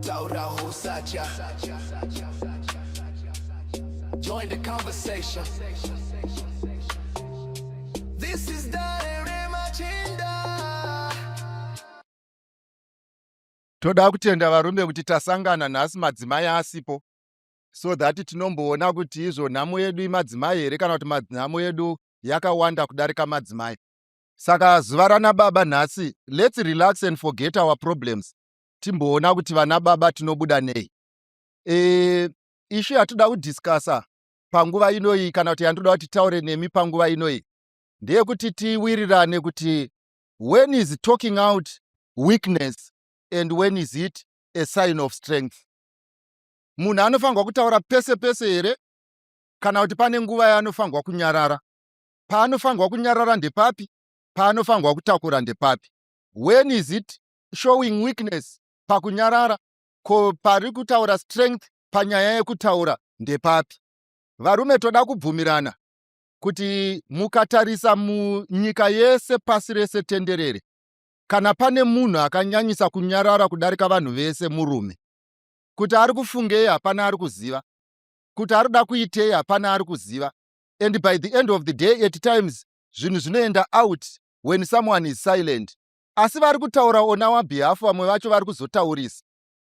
Taura husacha Join the conversation This is Dare Machinda Toda kutenda varume kuti tasangana nhasi madzimai asipo so that tinomboona kuti izvo nhamo yedu imadzimai here kana kuti nhamo yedu yakawanda kudarika madzimai saka zuva rana baba nhasi let's relax and forget our problems timboona kuti vana baba tinobuda nei e, ishu yatoda kudiscasa panguva inoyi kana kuti yandoda kuti taure nemi panguva inoyi ndeyekuti tiwirirane kuti when is talking out weakness and when is it a sign of strength munhu anofanirwa kutaura pese pese here kana kuti pane nguva yaanofanirwa kunyarara paanofanirwa kunyarara ndepapi paanofanirwa kutakura ndepapi when is it showing weakness pakunyarara ko pari kutaura strength panyaya yekutaura ndepapi varume toda kubvumirana kuti mukatarisa munyika yese pasi rese tenderere kana pane munhu akanyanyisa kunyarara kudarika vanhu vese murume kuti ari kufungei hapana ari kuziva kuti ari kuda kuitei hapana ari kuziva and by the end of the day at times zvinhu zvinoenda out when someone is silent asi vari kutaura on our behalf vamwe vacho vari kuzotaurisa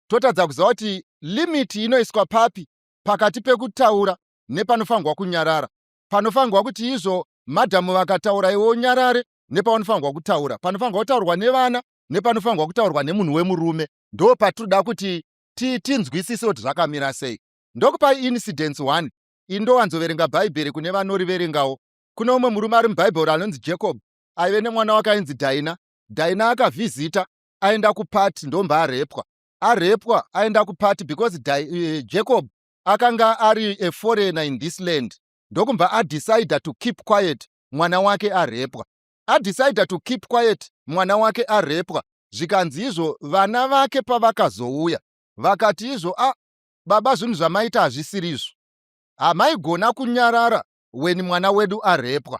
totadza kuziva kuti limit inoiswa papi pakati pekutaura nepanofanirwa kunyarara panofanirwa kuti izvo madhamu vakataura iwe unyarare nepavanofanirwa kutaura panofanirwa kutaurwa nevana nepanofanirwa kutaurwa nemunhu wemurume ndo patinoda kuti tinzwisise kuti zvakamira sei ndokupa incidence one indowanzoverenga bhaibheri kune vanoriverengawo kune umwe murume ari mubhaibheri anonzi jacob aive nemwana wake ainzi dhaina dhaina akavhizita aenda kupati ndomba arepwa arepwa aenda kupati because da, uh, eh, jacob akanga ari a foreigner in this land ndokumbva adecide to keep quiet mwana wake arepwa adecide to keep quiet mwana wake arepwa zvikanzi izvo vana vake pavakazouya vakati izvo a ah, baba zvinhu zvamaita hazvisiri izvo hamaigona kunyarara weni mwana wedu arepwa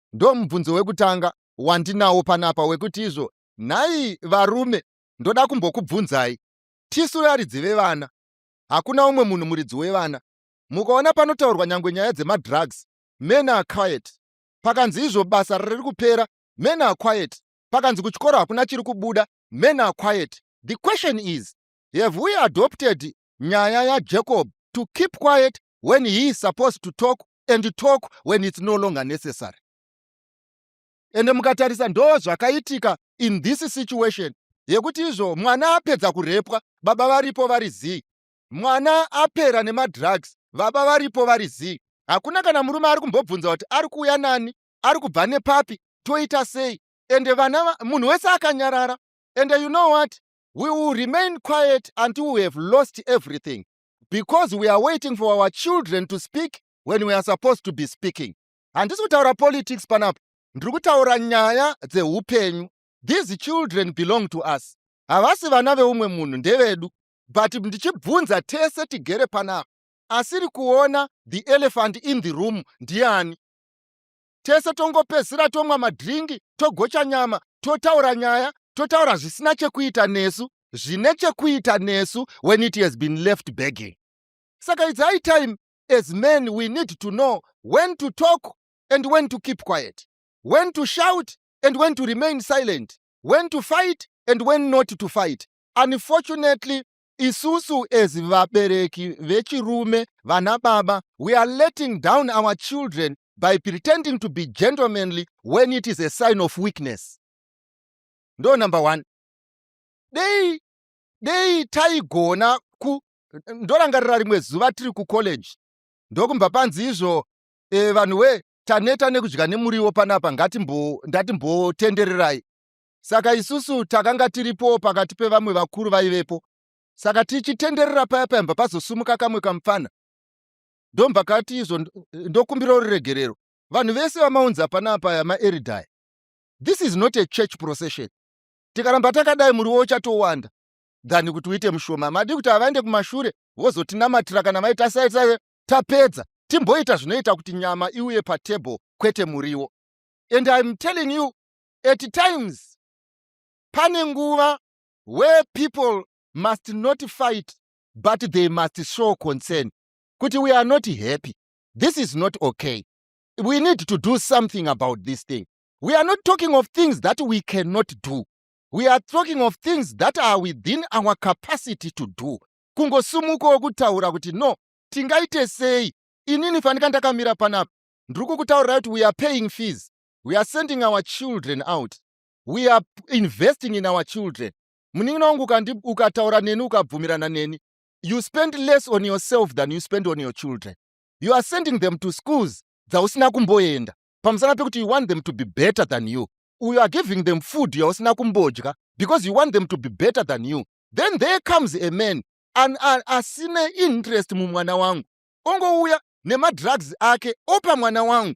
ndomubvunzo wekutanga wandinawo panapa wekuti izvo nhai varume ndoda kumbokubvunzai tisu varidzi vevana hakuna umwe munhu muridzi wevana mukaona panotaurwa nyangwe nyaya dzemadrugs men are quiet pakanzi izvo basa riri kupera men are quiet pakanzi kuchikoro hakuna chiri kubuda men are quiet the question is have we adopted nyaya yajacob to keep quiet when he is supposed to talk and talk when it's no longer necessary ende mukatarisa ndo zvakaitika in this situation yekuti izvo mwana apedza kurepwa baba varipo vari zii mwana apera nemadrugs baba varipo vari zii hakuna kana murume ari kumbobvunza kuti ari kuuya nani ari kubva nepapi toita sei ende vana munhu wese akanyarara ende you know what we will remain quiet until we have lost everything because we are waiting for our children to speak when we are supposed to be speaking handisi kutaura politics panapa ndiri kutaura nyaya dzeupenyu these children belong to us havasi vana veumwe munhu ndevedu but ndichibvunza tese tigere panapa asiri kuona the elephant in the room ndiani tese tongopedzisira tomwa madhiringi togocha nyama totaura nyaya totaura zvisina chekuita nesu zvine chekuita nesu when it has been left begging saka its high time as men we need to know when to talk and when to keep quiet when to shout and when to remain silent when to fight and when not to fight unfortunately isusu as vabereki vechirume vana baba we are letting down our children by pretending to be gentlemanly when it is a sign of weakness ndo number one dei dei taigona ku ndorangarira rimwe zuva tiri kucollege ndokumba panzi izvo e, vanhu we taneta nekudya nemuriwo panapa ngatimbo ndatimbotendererai saka isusu takanga tiripowo pakati pevamwe vakuru vaivepo saka tichitenderera paya paimba pazosumuka kamwe kamupfana ndombva kati izvo ndokumbirawo ruregerero vanhu vese vamaunza pana apaya maeridaya this is not a church procession tikaramba takadai muriwo uchatowanda than kuti uite mushoma madi kuti havaende kumashure vozotinamatira kana vaita saisai tapedza timboita zvinoita kuti nyama iuye patable kwete muriwo and im telling you At times pane nguva where people must not fight but they must show concern kuti we are not happy this is not okay we need to do something about this thing we are not talking of things that we cannot do we are talking of things that are within our capacity to do kungosumukawo kutaura kuti no tingaite sei inini fanika ndakamira panapa ndiri kukutaurira kuti we are paying fees we are sending our children out we are investing in our children munin'ina wangu ukataura neni ukabvumirana neni you spend less on yourself than you spend on your children you are sending them to schools dzausina kumboenda pamusana pekuti you want them to be better than you you are giving them food yausina kumbodya because you want them to be better than you then there comes a man an, an, asine interest mumwana wangu ongouya nemadrugs ake opa mwana wangu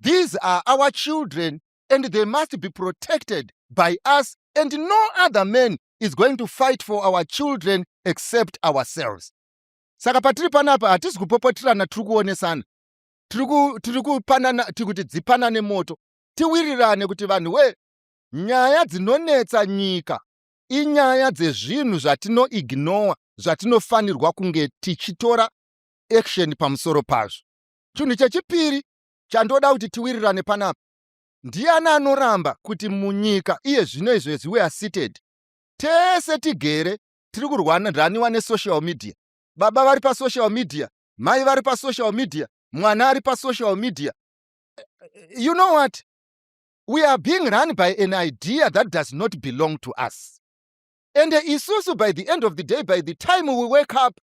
These are our children and they must be protected by us and no other man is going to fight for our children except ourselves. Saka patiri panapa hatisi kupopotirana tiri kuonesana tiri kupanana tiri kuti dzipanane moto tiwirirane kuti vanhu we nyaya dzinonetsa nyika inyaya dzezvinhu zvatinoignowa zvatinofanirwa kunge tichitora action pamusoro pazvo Chinhu chechipiri chandoda kuti tiwirirane panapa, ndiani anoramba kuti munyika iye zvino izvo as we are seated tese tigere tiri kurwaniraniwa nesocial media? Baba vari pasocial media, mai vari pasocial media, mwana ari pasocial media. You know what? We are being run by an idea that does not belong to us. And isusu by the end of the day, by the time we wake up,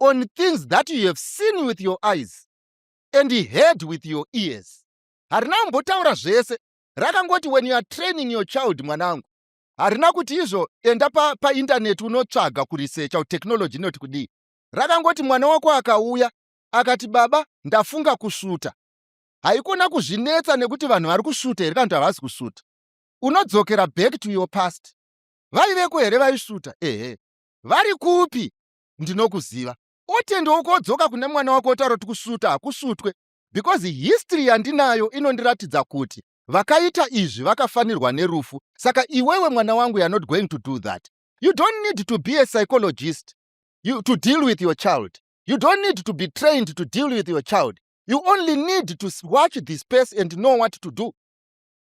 on things that you have seen with your eyes and heard with your ears harina kumbotaura zvese rakangoti when you are training your child mwanangu harina kuti izvo enda paindaneti pa unotsvaga kurisecha technology inoti kudii rakangoti mwana wako akauya akati baba ndafunga kusvuta haikona kuzvinetsa nekuti vanhu vari kusvuta here kana kuti havasi kusvuta unodzokera back to your past vaiveko here vaisvuta ehe vari kupi ndinokuziva otenda woko odzoka kune mwana wako otaura kuti kusuta hakusutwe because history yandinayo inondiratidza kuti vakaita izvi vakafanirwa nerufu saka iwewe mwana wangu you're not going to do that you don't need to be a psychologist you, to deal with your child you don't need to be trained to deal with your child you only need to watch the space and know what to do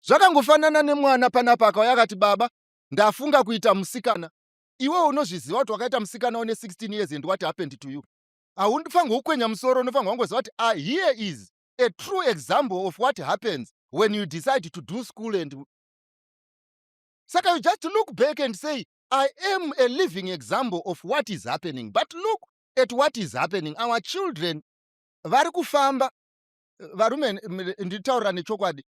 zvakangofanana nemwana panapa akauya akati baba ndafunga kuita musikana iwewe unozviziva kuti wakaita musikana une 16 years and what happened to you haundifanirwe kukwenya musoro unofanirwa kungoziva kuti ah, here is a true example of what happens when you decide to do school and saka you just look back and say i am a living example of what is happening but look at what is happening our children vari kufamba varume nditaurira nechokwadi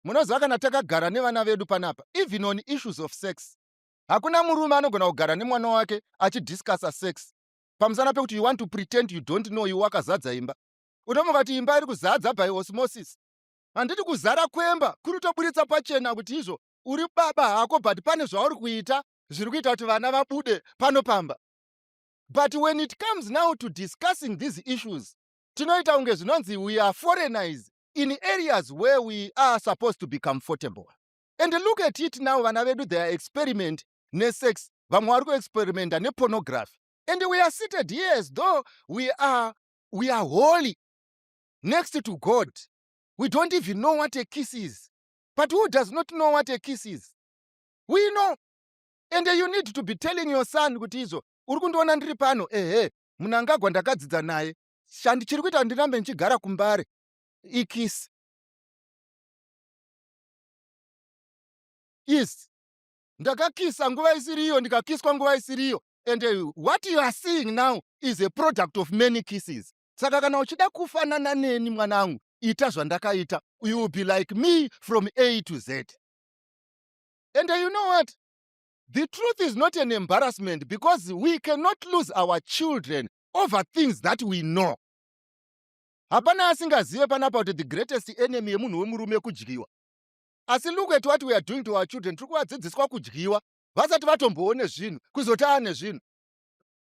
munoziva kana takagara nevana vedu panapa even on issues of sex hakuna murume anogona kugara nemwana wake achidiscussa sex pamusana pekuti you want to pretend you don't know you wakazadza imba unomuka kuti imba iri kuzadza by osmosis handiti kuzara kwemba kuri toburitsa pachena kuti izvo uri baba hako but pane zvauri kuita zviri kuita kuti vana vabude pano pamba but when it comes now to discussing these issues tinoita kunge zvinonzi we are foreigners in areas where we are supposed to be comfortable and look at it now vana vedu their experiment nesex vamwe vari kuexperimenta nepornography and we are seated here as though we are, we are holy next to god we don't even know what a kiss is but who does not know what a kiss is we know and you need to be telling your son kuti izvo uri kundiona ndiri pano ehe munangagwa ndakadzidza naye chandichiri kuita ndirambe ndichigara kumbare ikisi kiss ndakakisa nguva isiriyo ndikakiswa nguva isiriyo and uh, what you are seeing now is a product of many kisses saka kana uchida kufanana neni mwanangu ita zvandakaita you will be like me from a to z and uh, you know what the truth is not an embarrassment because we cannot lose our children over things that we know hapana asingazive panapa kuti the greatest enemy yemunhu wemurume kudyiwa asi look at what we are doing to our children tiri kuvadzidziswa kudyiwa vasati vatomboone zvinhu kuzoti aane zvinhu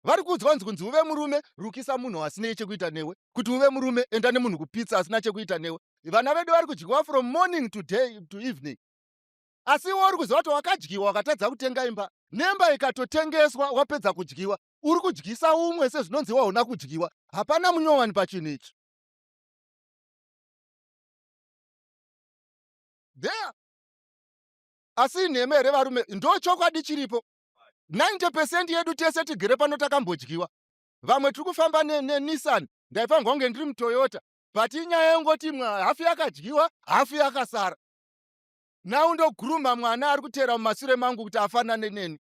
vari kuudzwa kunzi kunzi uve murume rukisa munhu asinei chekuita newe kuti uve murume enda nemunhu kupitsa asina chekuita newe vana vedu vari kudyiwa from morning to day to evening asi iwe uri kuziva kuti wakadyiwa wakatadza kutenga imba nemba ikatotengeswa wapedza kudyiwa uri kudyisa umwe sezvinonzi waona kudyiwa hapana munyowani pachinhu ichi dea asi inhema here varume ndo chokwadi chiripo 90 pecent yedu tese tigere pano takambodyiwa vamwe tiri kufamba nenissan ndaifanirwa kunge ndiri mutoyota but inyaya yongoti imwe hafu yakadyiwa hafu yakasara nau ndoguruma mwana ari kuteera mumasure mangu kuti afanane neni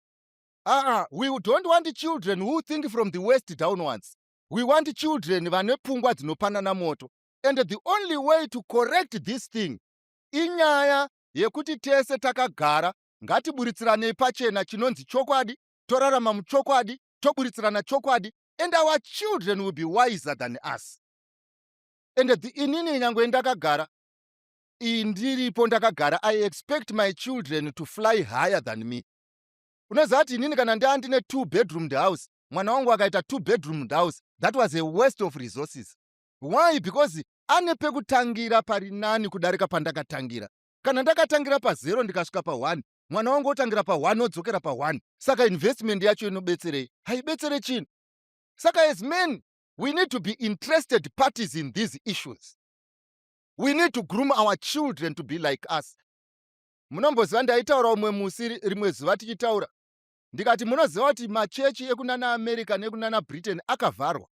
aa we don't want children who think from the west downwards we want children vane pfungwa dzinopanana moto and the only way to correct this thing inyaya yekuti tese takagara ngatiburitsiraneyi pachena chinonzi chokwadi torarama muchokwadi toburitsirana chokwadi and our children will be wiser than us and the inini nyangwe ndakagara iyi ndiripo ndakagara i expect my children to fly higher than me unoziva kuti inini kana ndaa ndine two bedroomed house mwana wangu akaita two bedroomed house that was a waste of resources why because ane pekutangira pari nani kudarika pandakatangira kana ndakatangira pazero ndikasvika paone mwana wangu otangira paone odzokera paone saka investment yacho inobetserei haibetsere chinhu saka as men we need to be interested parties in these issues we need to groom our children to be like us munomboziva ndaitaura umwe musi rimwe zuva tichitaura ndikati munoziva kuti machechi ekunana america nekunana britain akavharwa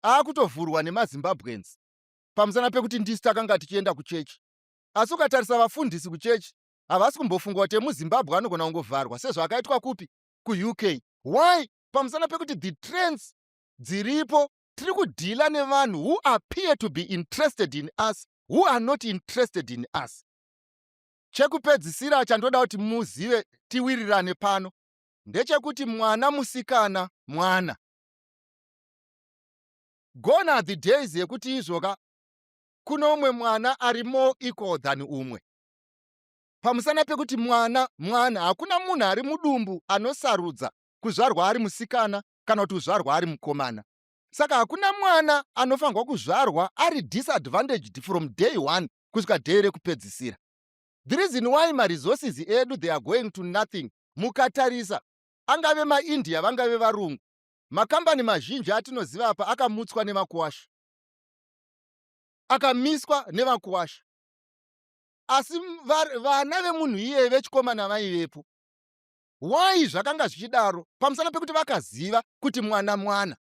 aakutovhurwa nemazimbabweans pamusana pekuti ndisu takanga tichienda kuchechi asi ukatarisa vafundisi kuchechi havasi kumbofunga kuti emuzimbabwe anogona kungovharwa sezvaakaitwa kupi kuuk why pamusana pekuti the trends dziripo tiri kudhila nevanhu who appear to be interested in us who are not interested in us Chekupedzisira chandoda kuti muzive tiwirirane pano ndechekuti mwana musikana mwana. Gone are the days yekuti izvoka kuno umwe mwana ari more equal than umwe. Pamusana pekuti mwana mwana hakuna munhu ari mudumbu anosarudza kuzvarwa ari musikana kana kuti kuzvarwa ari mukomana. Saka hakuna mwana anofanirwa kuzvarwa ari disadvantaged from day one kusvika day rekupedzisira the reason why maresources edu they are going to nothing mukatarisa angave maindia vangave varungu makambani mazhinji atinoziva apa akamutswa nevakuwasha akamiswa nevakuwasha asi vana vemunhu iyeye vechikomana vaivepo why zvakanga zvichidaro pamusana pekuti vakaziva kuti mwana mwana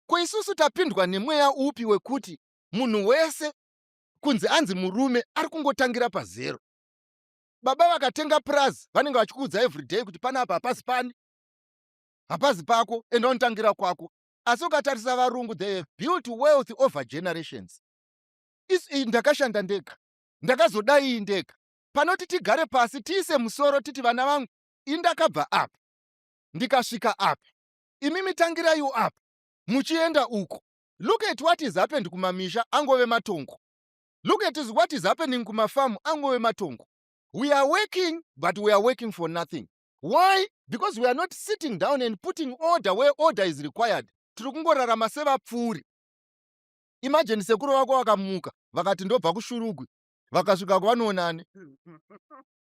ko isusu tapindwa nemweya upi wekuti munhu wese kunzi anzi murume ari kungotangira pazero baba vakatenga purazi vanenge vachikuudza everyday kuti pane apa hapazi pani hapazi pako enda unotangira kwako asi ukatarisa varungu they have built wealth over generations isu iyi ndakashanda ndega ndakazodai iyi ndega panoti tigare pasi tiise musoro titi vana vangu ini ndakabva apa ndikasvika apa imi mitangirayiwo apa muchienda uko look at what is happened kumamisha angove matongo look at is what is happening kumafamu angove matongo we are working but we are working for nothing why because we are not sitting down and putting order where order is required tiri kungorarama sevapfuuri imajeni sekuru vako vakamuka vakati ndobva kushurugwi vakasvika kwavanoonani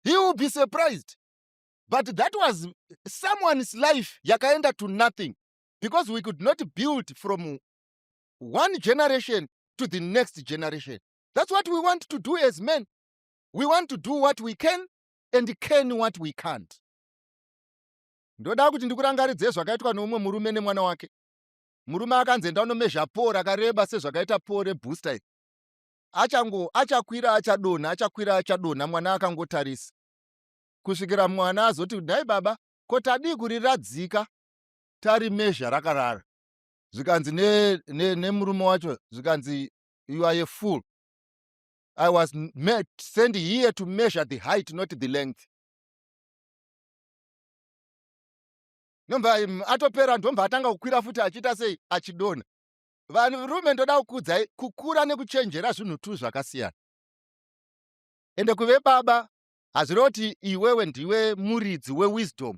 he will be surprised but that was someone's life yakaenda to nothing because we could not build from one generation to the next generation. That's what we want to do as men. We want to do what we can and can what we can't. Ndoda kuti ndikurangaridze zvakaitwa noumwe murume nemwana wake. Murume akanzi enda unomezha poo rakareba sezvakaita poo rebooster iri. Achango achakwira achadonha achakwira achadonha mwana akangotarisa. Kusvikira mwana azoti nhai baba ko tadii kuriradzika tari measure rakarara zvikanzi nemurume wacho zvikanzi you are a fool i was met, send here to measure the height not the length ndomva atopera ndomva atanga kukwira futi achiita sei achidona varume ndoda kukudzai kukura nekuchenjera zvinhu tu zvakasiyana ende kuve baba hazviroti iwewe ndiwe muridzi wewisdom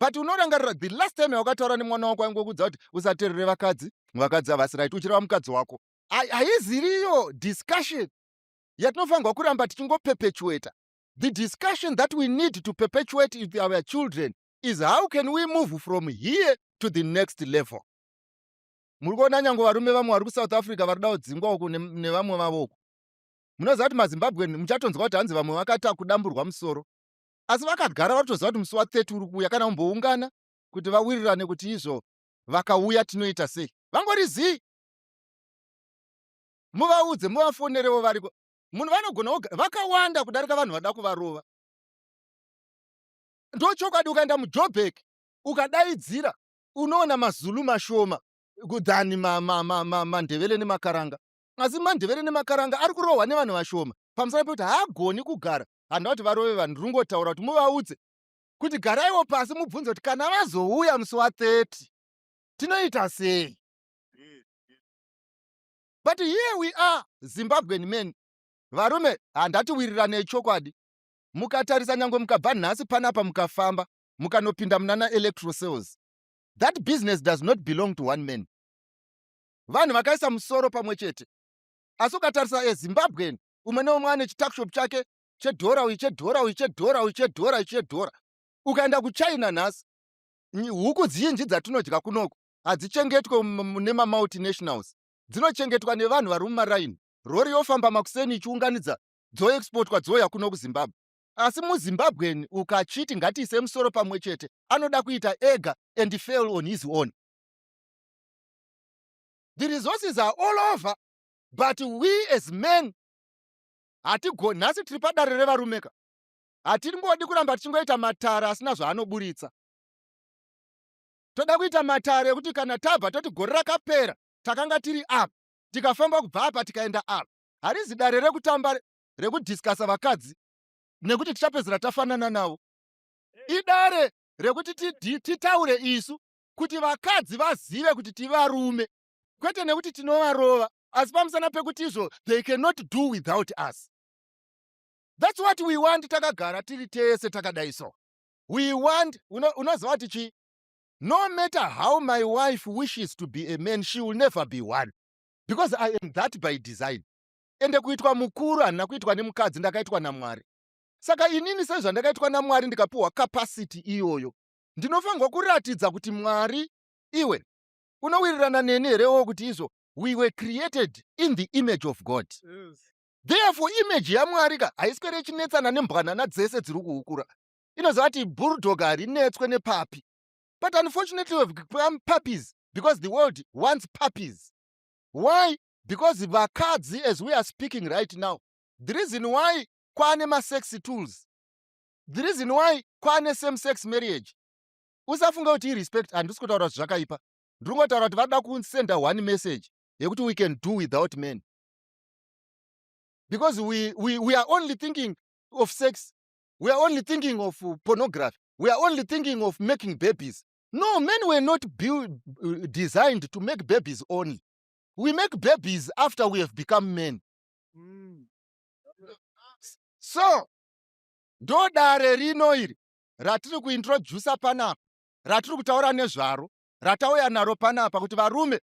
but unorangarira the last time yawakataura nemwana wako ainge kuudza kuti usaterere vakadzi vakadzi havasi right uchireva mukadzi wako haiziriyo discussion yatinofanirwa kuramba tichingopepetueta the discussion that we need to perpetuate with our children is how can we move from here to the next level muri kuona nyange varume vamwe vari kusouth africa vari kudawo dzingwa uku nevamwe vavo uku munoziva kuti mazimbabwe muchatonzwa kuti hanzi vamwe vakata kudamburwa musoro asi vakagara vatoziva kuti musi wa 30 uri kuuya kana kumboungana kuti vawirirane kuti izvo vakauya tinoita sei vangori zii muvaudze muvafonerevo variko munhu vanogona vakawanda kudarika vanhu vada kuvarova ndochokwadi ukaenda mujobek ukadaidzira unoona mazulu mashoma than mandevele nemakaranga asi mandevele nemakaranga ari kurohwa nevanhu vashoma pamusana pekuti haagoni kugara handina kuti varove vanhu ndiri kungotaura kuti muvaudze kuti garaiwo pasi mubvunze kuti kana vazouya musi wa 30 tinoita sei but here we are zimbabwean men varume handati wiriranei chokwadi mukatarisa nyange mukabva nhasi panapa mukafamba mukanopinda munana electro cells that business does not belong to one man vanhu vakaisa musoro pamwe chete asi ukatarisa ezimbabwean umwe neumwe ane chituckshop chake chedhora uyu chedhora uyu chedhora uyu chedhora uyu chedhora ukaenda kuchina nhasi huku dzinji dzatinodya kunoko hadzichengetwe nemamultinationals dzinochengetwa nevanhu vari mumaraini rori yofamba makuseni ichiunganidza dzoexportwa dzouya kuno kuzimbabwe asi muzimbabwen ukachiti ngatiise musoro pamwe chete anoda kuita ega and fail on his own the resources are all over but we as men hatigoni nhasi tiri padare revarume ka hatingodi kuramba tichingoita matare asina zvaanoburitsa toda kuita matare ekuti kana tabva toti gore rakapera takanga tiri apa tikafamba kubva apa tikaenda apa harizi dare rekutamba rekudhiskasa vakadzi nekuti tichapedzera tafanana navo idare rekuti titaure isu kuti vakadzi vazive kuti tivarume kwete nekuti tinovarova asi pamusana pekuti izvo they cannot do without us thats what we want takagara tiri tese takadai so we want unoziva kuti chii no matter how my wife wishes to be a man she will never be one because i am that by design ende kuitwa mukuru handina kuitwa nemukadzi ndakaitwa namwari saka inini sezvandakaitwa namwari ndikapiwa capacity iyoyo ndinofanirwa kuratidza kuti mwari iwe unowirirana neni here wo kuti izvo we were created in the image of god therefore image yamwari ka haiswere ichinetsana nembwanana dzese dziri kuukura inoziva kuti bulldog harinetswe nepapi but unfortunately we've become puppies because the world wants puppies why because vakadzi as we are speaking right now the reason why kwaane masex tools the reason why kwaane same sex marriage usafunga kuti irespect handisi kutaura kuti zvakaipa ndiri kungotaura kuti vada kusenda one message yekuti we can do without men because we, we, we are only thinking of sex we are only thinking of uh, pornography we are only thinking of making babies no men were not build, uh, designed to make babies only we make babies after we have become men mm. so ndodare rino iri ratiri kuintroducer panapa ratiri kutaura nezvaro ratauya naro panapa kuti varume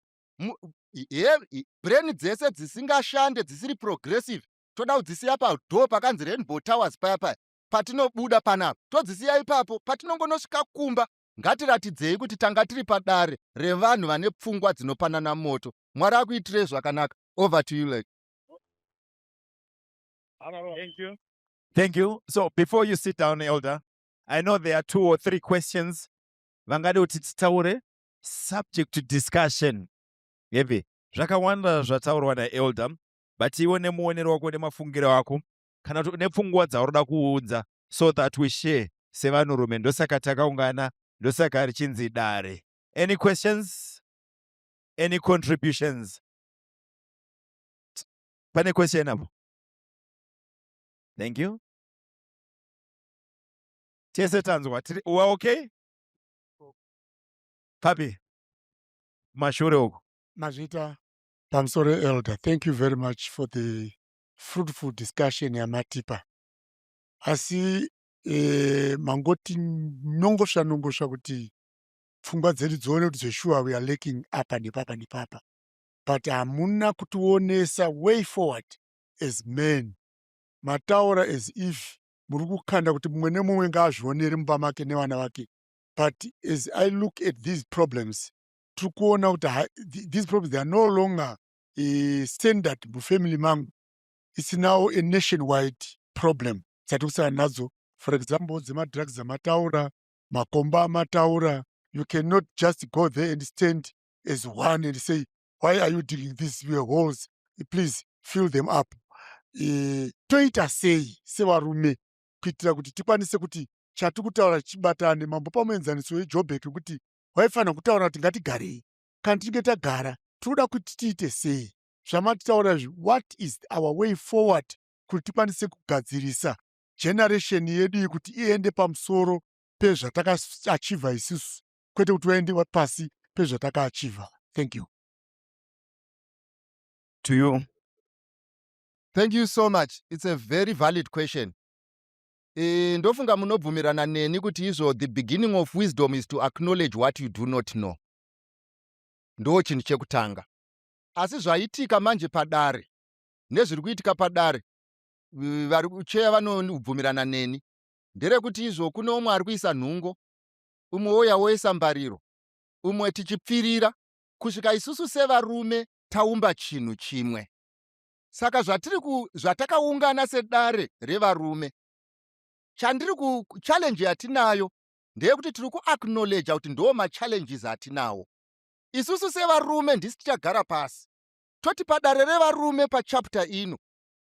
brain dzese dzisingashande dzisiri progressive toda kudzisiya padoo pakanzi rainbow towers paya paya patinobuda panapa todzisiya ipapo patinongonosvika kumba ngatiratidzei kuti tanga tiri padare revanhu vane pfungwa dzinopanana moto mwari akuitirei zvakanaka over to you like Thank you. Thank you. So before you sit down, Elder, I know there are two or three questions. Vangade kuti titaure subject to discussion. Heavy. Zvakawanda zvataurwa naElder, but iwe nemuonero wako nemafungiro ako kana kuti nepfungwa dzaurida kuunza so that we share sevanhurume ndosaka takaungana ndosaka richinzi dare. Any questions? Any contributions? Pane question apo? thank you tese tanzwa tiri uwa okay papi mashure uko mazvita pamusoro elder thank you very much for the fruitful discussion yamatipa asi eh, mangoti nongosva nongosva kuti pfungwa dzedu dzione kuti zveshuwa we are laking apa nepapa nepapa but hamuna kutionesa way forward as men mataura as if muri kukanda kuti mumwe nemumwe ngaazvionere mumba make nevana vake but as i look at these problems tiri kuona kuti these problems they are no longer uh, standard mufamily mangu it's now a nationwide problem dzatiri kusana nadzo for example dzemadrugs dzamataura makomba amataura you cannot just go there and stand as one and say why are you digging these your holes please fill them up e, toita sei sevarume kuitira kuti tikwanise kuti chati kutaura chibatane mambo pamuenzaniso wejobhek kuti waifanira kutaura kuti ngatigarei kana tichinge tagara tinoda kuti tiite sei zvamatitaura izvi what is our way forward kuti tikwanise kugadzirisa generation yedu iyi kuti iende pamusoro pezvatakaachivha isusu kwete kuti vaende pasi pezvatakaachiva thank you to you thank you so much it's a very valid question e, ndofunga munobvumirana neni kuti izvo the beginning of wisdom is to acknowledge what you do not know ndo chinhu chekutanga asi zvaitika manje padare nezviri kuitika padare vari kucheya vanobvumirana neni nderekuti izvo kune umwe ari kuisa nhungo umwe wouya woisa mbariro, umwe tichipfirira kusvika isusu sevarume taumba chinhu chimwe. Saka zvatiri ku, zvatakaungana sedare revarume, chandiri ku challenge yatinayo ndeyekuti tiri kuacknowledge kuti ndoo machallenges atinawo isusu sevarume ndisi tichagara pasi toti padare revarume pachapter ino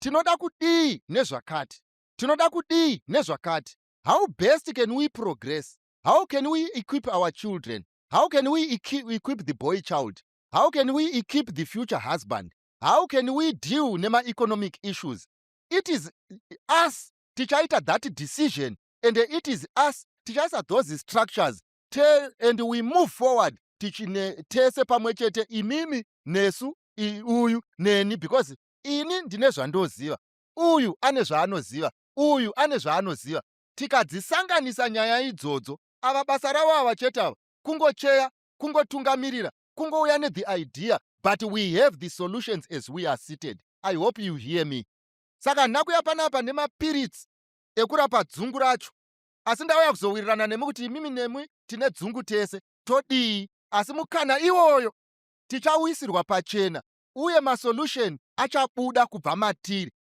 tinoda kudii nezvakati tinoda kudii nezvakati how best can we progress how can we equip our children how can we equip the boy child how can we equip the future husband how can we deal nemaeconomic issues it is us tichaita that decision and it is us tichaisa those structures te, and we move forward tichine tese pamwe chete imimi nesu uyu neni because ini ndine zvandoziva uyu ane zvaanoziva uyu ane zvaanoziva tikadzisanganisa nyaya idzodzo ava basa ravo ava chete ava kungocheya kungotungamirira kungouya ne the idea but we have the solutions as we are seated i hope you hear me saka nakuya panapa nemapiritsi ekurapa dzungu racho asi ndauya kuzowirirana nemi kuti imimi nemwi tine dzungu tese todii asi mukana iwoyo tichauyisirwa pachena uye masolution achabuda kubva matiri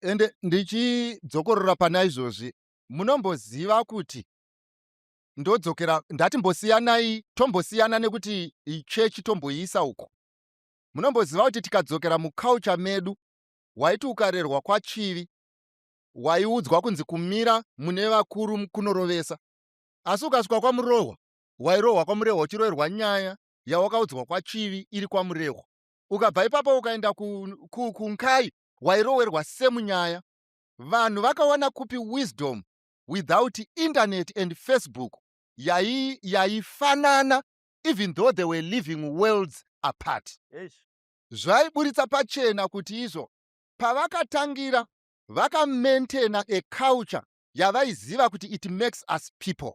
ende ndichidzokorora pana izvozvi munomboziva kuti ndodzokera ndati mbosiyanai tombosiyana nekuti ichechi tomboiisa uko munomboziva kuti tikadzokera muculture medu waiti ukarerwa kwachivi waiudzwa kunzi kumira mune vakuru kunorovesa asi ukasvika kwamurohwa wairohwa kwamurehwa uchiroerwa nyaya yawakaudzwa kwachivi iri kwamurehwa ukabva ipapo ukaenda kunkai ku, ku, wairowerwa same nyaya vanhu vakawana kupi wisdom without internet and facebook yai yaifanana even though they were living worlds apart zvaiburitsa pachena kuti izvo pavakatangira vakamaintaina a culture yavaiziva kuti it makes us people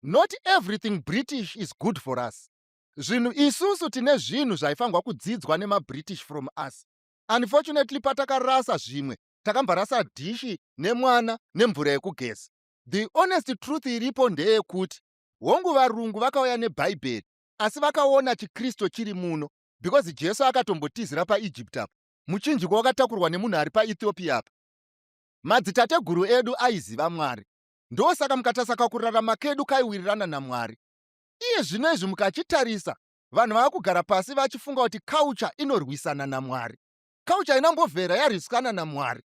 not everything british is good for us zvinhu isusu tine zvinhu zvaifanirwa kudzidzwa nemabritish from us unfortunately patakarasa zvimwe takamborasa dhishi nemwana nemvura yekugeza the honest truth iripo ndeyekuti hongu varungu vakauya nebhaibheri asi vakaona chikristu chiri muno because jesu akatombotizira paegypt apa muchinjiko wakatakurwa nemunhu ari paethiopia apa madzitateguru edu aiziva mwari ndosaka mukatasaka kurarama kedu kaiwirirana namwari iye zvino izvi mukachitarisa vanhu vava kugara pasi vachifunga kuti culture inorwisana namwari culture inambovhera yarwisana namwari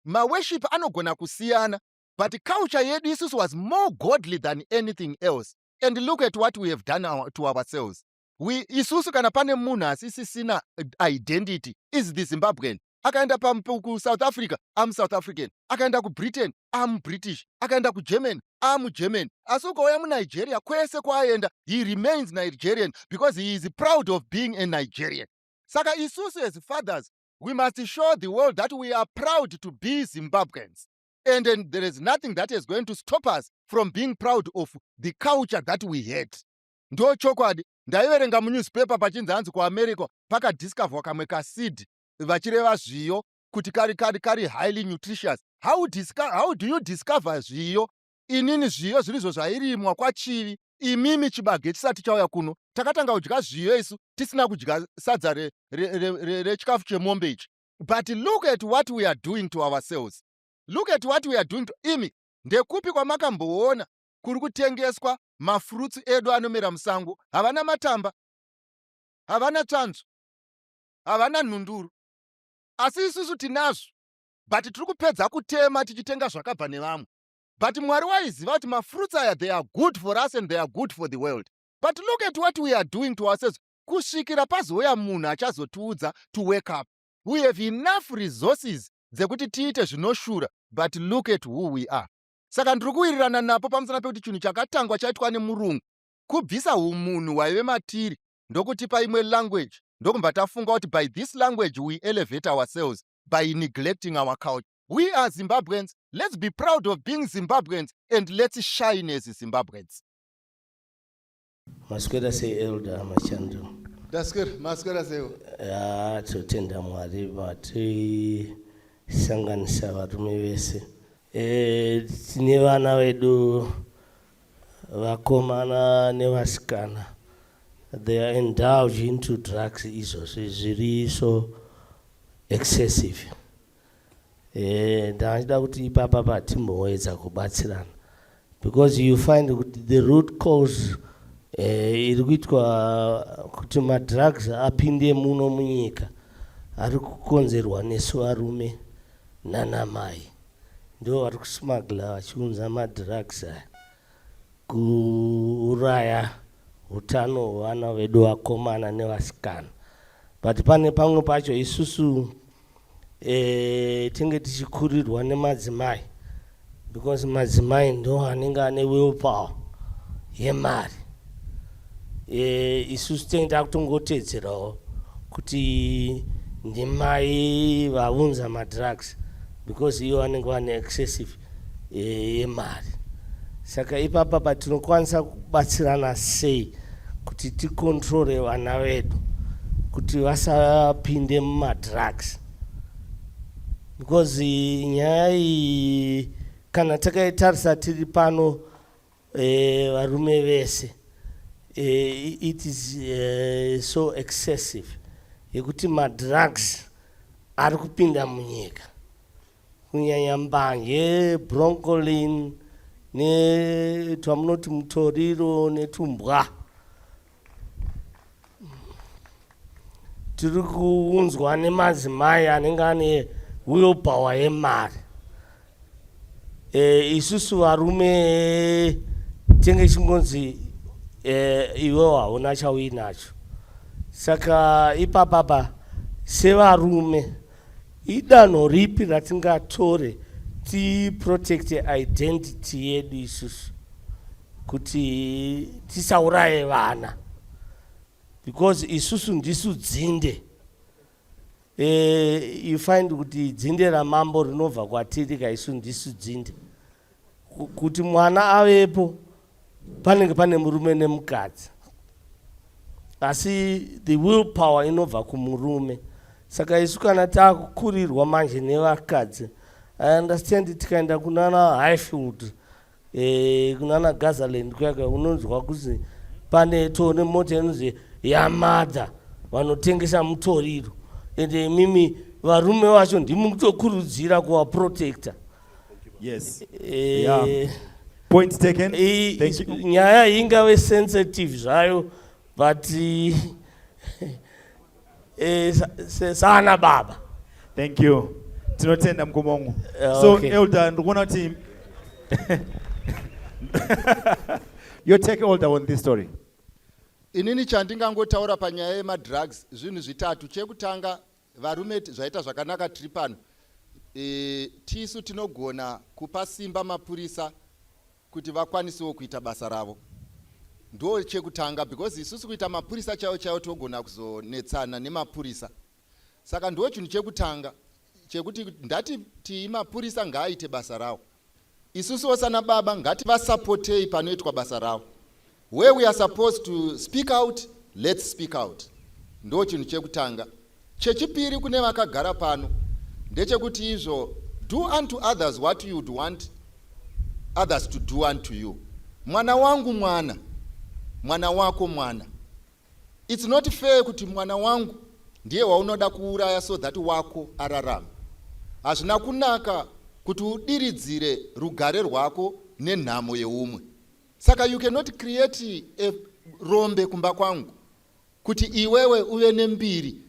maweship anogona kusiyana but culture yedu isusu was more godly than anything else and look at what we have done our, to ourselves we isusu kana pane munhu asisisina identity is the zimbabwean akaenda kusouth africa amusouth african akaenda kubritain amubritish akaenda kugermany amugermany asi ukauya munigeria kwese kwaaenda he remains nigerian because he is proud of being a nigerian saka isusu as fathers we must show the world that we are proud to be zimbabweans and, and there is nothing that is going to stop us from being proud of the culture that we had ndo chokwadi ndaiverenga munewspaper pachinzi hanzi kuamerica pakadiscoverwa kamwe kasid vachireva zviyo kuti kari kari kari highly nutritious how, how do you discover zviyo inini zviyo zvirizvo zvairimwa kwachivi imimi chibage chisati chauya kuno takatanga kudya zviyo isu tisina kudya sadza rechikafu chemombe ichi but look at what we are doing to ourselves look at what we are doing to imi ndekupi kwamakamboona kuri kutengeswa mafurutsu edu anomera musango havana matamba havana tsvanzvo havana nhunduru asi isusu tinazvo but tiri kupedza kutema tichitenga zvakabva nevamwe but mwari waiziva kuti mafruits aya they are good for us and they are good for the world but look at what we are doing to ourselves kusvikira pazouya munhu achazotiudza to wake up we have enough resources dzekuti tiite zvinoshura but look at who we are saka ndiri kuwirirana napo pamusana pekuti chinhu chakatangwa chaitwa nemurungu kubvisa umunhu hwaive matiri ndokutipa imwe language ndokumba tafunga kuti by this language we elevate ourselves by neglecting our culture we are zimbabweans let's be proud of being zimbabweans and let's shine as zimbabweans maswera sei elder machando ndaswera maswera seiwo ya totenda mwari vatisanganisa varume vese e, tine vana vedu Vakomana nevasikana they are indulge into drugs izvozvi zviri so excessive. Eh, ndachida kuti ipapa patimboedza kubatsirana because you find kuti the root cause eh, iri kuitwa kuti madrugs apinde muno munyika ari kukonzerwa nesu varume nanamai ndivo vari kusmagla vachiunza madrugs aya kuuraya utano hwevana vedu vakomana nevasikana but pane pamwe pacho isusu e, tinge tichikurirwa nemadzimai because madzimai ndo anenge ane will power yemari Eh, isusu tenge takutongoteedzerawo kuti ndimai vaunza madrugs because iyo vanenge vane excessive eh, yemari saka ipapa patinokwanisa kubatsirana sei kuti tikontrore vana vedu kuti vasapinde mumadrugs because nyaya iyi kana takaitarisa tiri pano Eh, varume vese eh, it is eh, so excessive yekuti madrugs ari kupinda munyika kunyanya mbanje broncolin netwamunoti mutoriro netumbwa tiri kuunzwa nemadzimai anenge ane uyo power yemari e, isusu varume tenge chingonzi e, iwewo hauna chauinacho saka ipapapa sevarume idanho ripi ratingatore tiprotecte identity yedu isusu kuti tisauraye vana because isusu ndisu dzinde e, you find kuti dzinde ramambo rinobva kwatiri ka isu ndisu dzinde kuti mwana avepo panenge pane murume nemukadzi asi the will power inobva kumurume saka isu kana takukurirwa manje nevakadzi i understand tikaenda kunana highfield e, kunana gazaland kuyaka unonzwa kuzi pane tone mota inonzi yamadha vanotengesa mutoriro ende imimi varume vacho ndimi kutokurudzira kuvaprotecta yes. e, yeah. point taken e, nyaya ingave sensitive zvayo but Eh, sana baba. Thank you. Tinotenda mkoma wangu. Eh, so okay. Elder ndikuona kuti you take older on this story. Inini chandingangotaura panyaya yemadrugs zvinhu zvitatu chekutanga varume zvaita zvakanaka tiri pano e, tisu tinogona kupa simba mapurisa kuti vakwanisewo kuita basa ravo ndo chekutanga because isusu kuita mapurisa chaiwo chaiwo togona kuzonetsana nemapurisa saka ndo chinhu chekutanga chekuti ndati tii mapurisa ngaaite basa rawo isusuwo sana baba ngativasapotei panoitwa basa rawo Where we are supposed to speak out, let's speak out. Ndo chinhu chekutanga. Chechipiri kune vakagara pano ndechekuti izvo do unto others what you would want others to do unto you. Mwana wangu mwana, mwana wako mwana. It's not fair kuti mwana wangu ndiye waunoda kuuraya so that wako ararama. Hazvina kunaka kuti udiridzire rugare rwako nenhamo yeumwe. saka you cannot create a rombe kumba kwangu kuti iwewe uve nembiri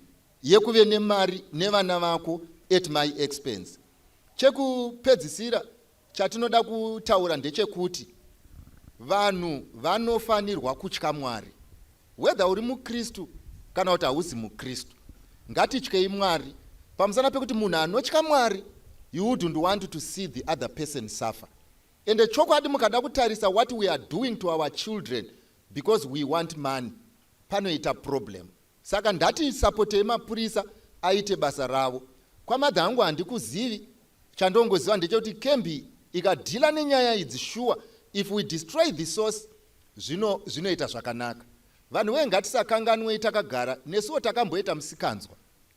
yekuve nemari nevana vako at my expense chekupedzisira chatinoda kutaura ndechekuti vanhu vanofanirwa kutya mwari whether uri mukristu kana kuti hauzi mukristu ngatityei mwari pamusana pekuti munhu anotya mwari you wouldn't want to see the other person suffer Ende chokwadi mukada kutarisa what we are doing to our children because we want money panoita problem. Saka ndati sapotei mapurisa aite basa ravo. Kwamadha hangu handikuzivi, chandongoziva ndechekuti kembi ikadhila nenyaya idzi shuwa if we destroy the source zvino zvinoita zvakanaka. Vanhu wee ngatisakanganwei takagara nesuwo takamboita musikanzwa.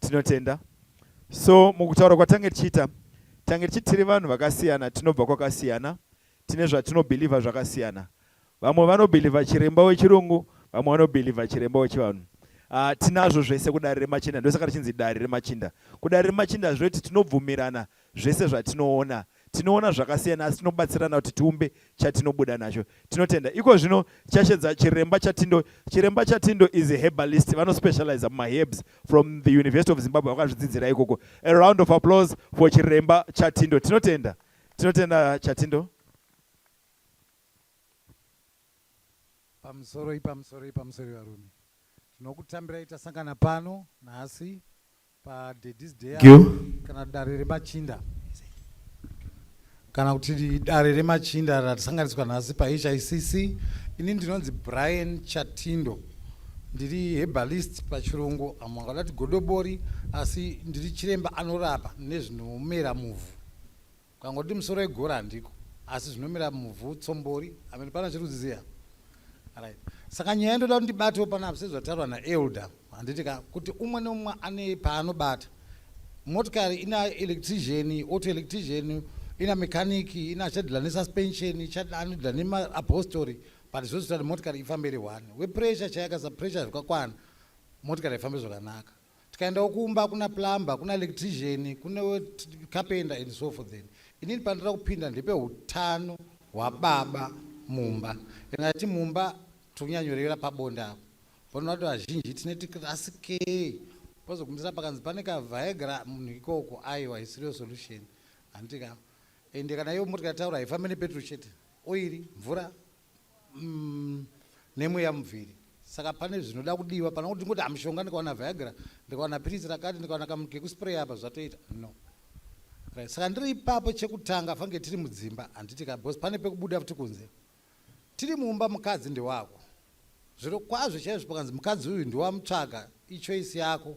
Tinotenda. So mukutaura kwatange tichiita tange tichiti tiri vanhu vakasiyana, tinobva kwakasiyana, tine zvatinobhilivha zvakasiyana. Vamwe vanobhilivha chiremba wechirungu, vamwe vanobhilivha chiremba wechivanhu. Uh, tinazvo zvese kudare remachinda ndosaka richinzi dare remachinda kudare remachinda zvinoti tinobvumirana Zvese zvatinoona, tinoona zvakasiyana asi tinobatsirana kuti tiumbe chatinobuda nacho. Tinotenda. Iko zvino tichashedza Chiremba Chatindo. Chiremba Chatindo is a herbalist, vanospecializer mumaherbs from the University of Zimbabwe, vakazvidzidzira ikoko. A round of applause for Chiremba Chatindo. Tinotenda. Tinotenda Chatindo. Pamusoroi, pamusoroi, pamusoroi varume. Tinokutambirai tasangana pano nhasi Padaddy's Day kana dare remachinda kana kuti dare remachinda ratisanganiswa nhasi pahicc ini ndinonzi brian chatindo ndiri hebalist pachirungu amwe angadati godobori asi ndiri chiremba anorapa nezvinomera muvhu Ukangoti musoro igora handiko asi zvinomira muvhu tsombori amene pana chirudziziya right saka nyaya ndoda kuti ndibatewo panapa sezvataurwa naelder handiti ka kuti umwe neumwe ane paanobata motikari ina electrician auto electrician ina mechanic ina chadila nesuspension chadila nemaapostori but zvose kuti motikari ifambe iri one wepressure chayakasa pressure zvakakwana motikari haifambe zvakanaka tikaendawo kumba kuna plumber kuna electrician kune carpenter and so forth then inini pandira kupinda ndepe utano hwababa mumba and ati mumba tonyanyorevera pabonde apo pano vato vazhinji tine tikirasi ke pozogumisira pakanzi pane kavhaegra munhu ikoko aiwa isiriyo solution handitika ende kana iyo motika taura haifambe nepetro chete oiri mvura mm, nemweya mubviri saka pane zvinoda kudiwa pana kuti ndingoti amushonga ndikawana viagra ndikawana piritsi rakati ndikawana kamunhu kekuspreya apa zvatoita no right. saka ndiri ipapo chekutanga fange tiri mudzimba handiti ka bcause pane pekubuda futi kunze tiri mumba mukadzi ndewako zviro kwazvo chaizvo pakanzi mukadzi uyu ndiwamutsvaga ichoisi yako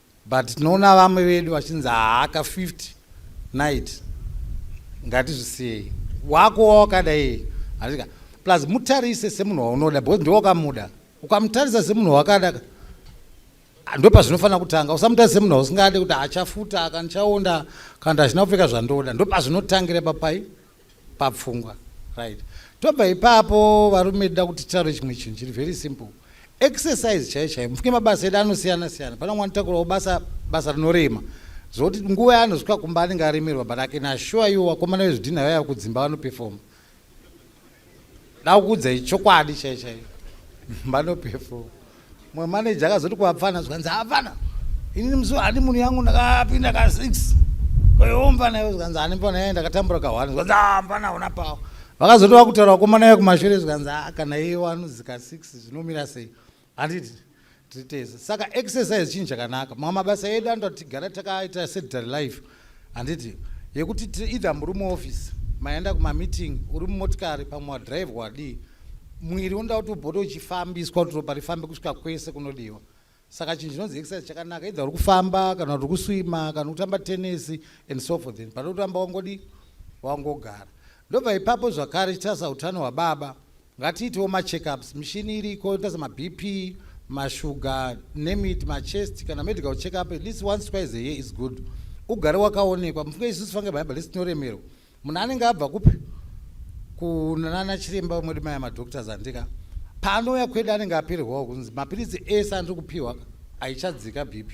but tinoona vamwe vedu vachinzi haaka 50 night ngatizvisiyei wako wawakadai handika plus mutarise semunhu waunoda because ndowakamuda ukamutarisa semunhu wakada ndopazvinofanira kutanga usamutarisa semunhu wausingade kuti achafuta akandichaonda kana kuti hazvina kupfeka zvandoda ndopazvinotangira papai papfungwa right tobva ipapo varume tida kuti titaure chimwe chinhu chiri very simple exercise chaiyo chaiyo mufunge mabasa edu anosiyana siyana pane mwana takurawo basa basa rinorema zvokuti nguva yaanozvika kumba anenge aremerwa but ake nashuwa iwo vakomana vezvidhinha vaiva kudzimba vanopefoma dakukuudzai chokwadi chaiyo chaiyo vanopefoma Mwe manager akazoti kuapfana zvikanzi apfana inini musi handi munhu yangu ndakapinda ka six kwayo mfana iwe zvikanzi handi mfana yaye ndakatambura ka one zvikanzi ah mfana una pawo vakazoti vakutaura kukomana iye kumashure zvikanzi ah kana iye wanozi ka six zvinomira sei handiti tiri tese saka exercise chinhu chakanaka mamwe mabasa edu anoda kuti tigara takaita sedary life handiti yekuti either muri muoffice maenda kumameeting uri mumotikari pamwe wadrive wadii mwiri unoda kuti ubote uchifambiswa kuti ropa rifambe kusvika kwese kunodiwa saka chinhu chinonzi exercise chakanaka either uri kufamba kana kuti kuswima kana kutamba tenesi and so forth then pane kutamba wangodi wangogara ndobva ipapo zvakare chitarisa utano hwababa Ngatiitewo macheckups, mishini iriko inotarisa maBP, mashuga, name it, machest kana medical checkup at least once twice a year is good. Ugare wakaonekwa. Mufunge isusu fange Bible lesi tinoremerwa. Munhu anenge abva kupi? Kunana chiremba vamwe vedu maya madoctors andika. Paanouya kwedu anenge apererwawo kunzi mapiritsi ese andiri kupiwa aichadzika BP.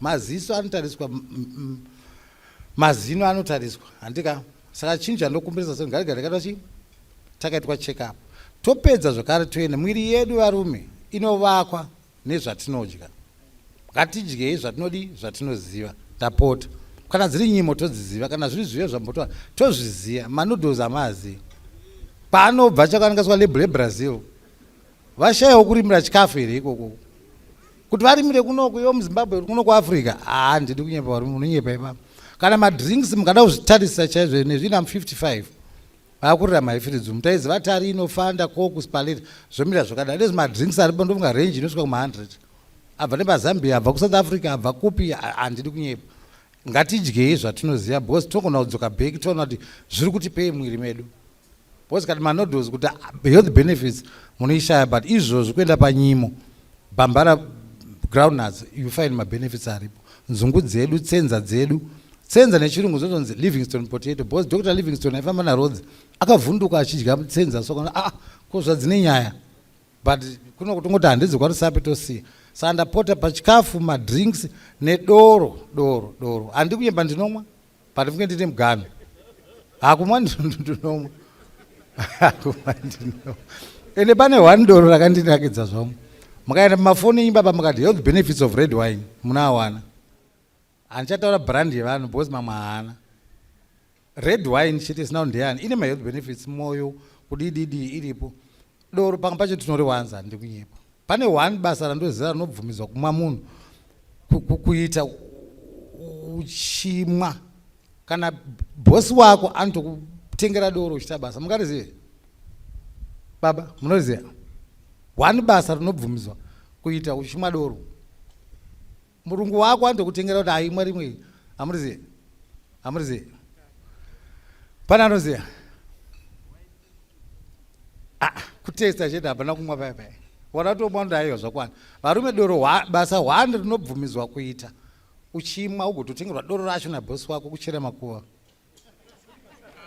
Maziso anotariswa mm, mm, mm. mazino anotariswa handika saka chinhu chandokumbirisa so ngatigare takaitwa chii takaitwa check up topedza zvakare toenda mwiri yedu varume inovakwa nezvatinodya ngatidyei zvatinodii zvatinoziva tapota kana dziri nyimo todziziva kana zviri zviyo zvambotoa tozviziva manoodles amaazivi paanobva chakanikaswa label ebrazil Vashayawo kurimira chikafu here ikoko. Kuti varimire kuno kuyo muZimbabwe kuno kuAfrica. Ah ndidi kunyepa varume munonyepa ipapa. Kana madrinks mukada kuzvitarisa chaizvo nezvino am 55. Vakurira maifiridzi mutaizi vatari inofanda koku spaleta zvomira zvakadai. Ndezvi madrinks aripo ndofunga range inosvika kuma 100. Abva nepaZambia abva kuSouth Africa abva kupi handidi kunyepa. Ngatidyei zvatinoziva because tinogona kudzoka back toona kuti zviri kutipei mumwiri medu. Boss kati manoodles kuti health benefits munoishaya but izvozvi kuenda panyimo bambara groundnuts you find mabenefits aripo nzungu dzedu tsenza dzedu tsenza nechirungu zvotonzi livingston potato bcause dr livingston aifamba narodzi akavhunduka achidya tsenza so kana aa ah, ko zvadzine nyaya but kuno kutongoti handizi kwarisapi tosiya saka ndapota pachikafu madrinks nedoro doro doro handikunyemba ndinomwa But funge ndine mugano. Hakumwa ndinomu. Hakumwa ndinomu. Ende pane one doro rakandinakidza zvamu. Mukaenda pamafoni imba pamukati health benefits of red wine munawana. Handichataura brand yevanhu because mamwe haana. Red wine chete isina ndeyani ine ma health benefits moyo kudididi iripo. Doro panga pacho tinoriwanza handidi kunyepa. Pane one basa randoziva rinobvumidzwa kumwa munhu kuita uchimwa kana bosi wako anotokutengera doro uchita basa mungarizive baba munoriziva one basa rinobvumidzwa kuita uchimwa doro murungu wako andokutengera kuti aimwa rimwe hamuriziye hamuriziye pane anoziya ah, kutesta chete hapana kumwa paya paya waratomwa ndaiyo zvakwana varume doro basa hwani rinobvumidzwa kuita uchimwa ugototengerwa doro racho nabosi wako kuchera makuva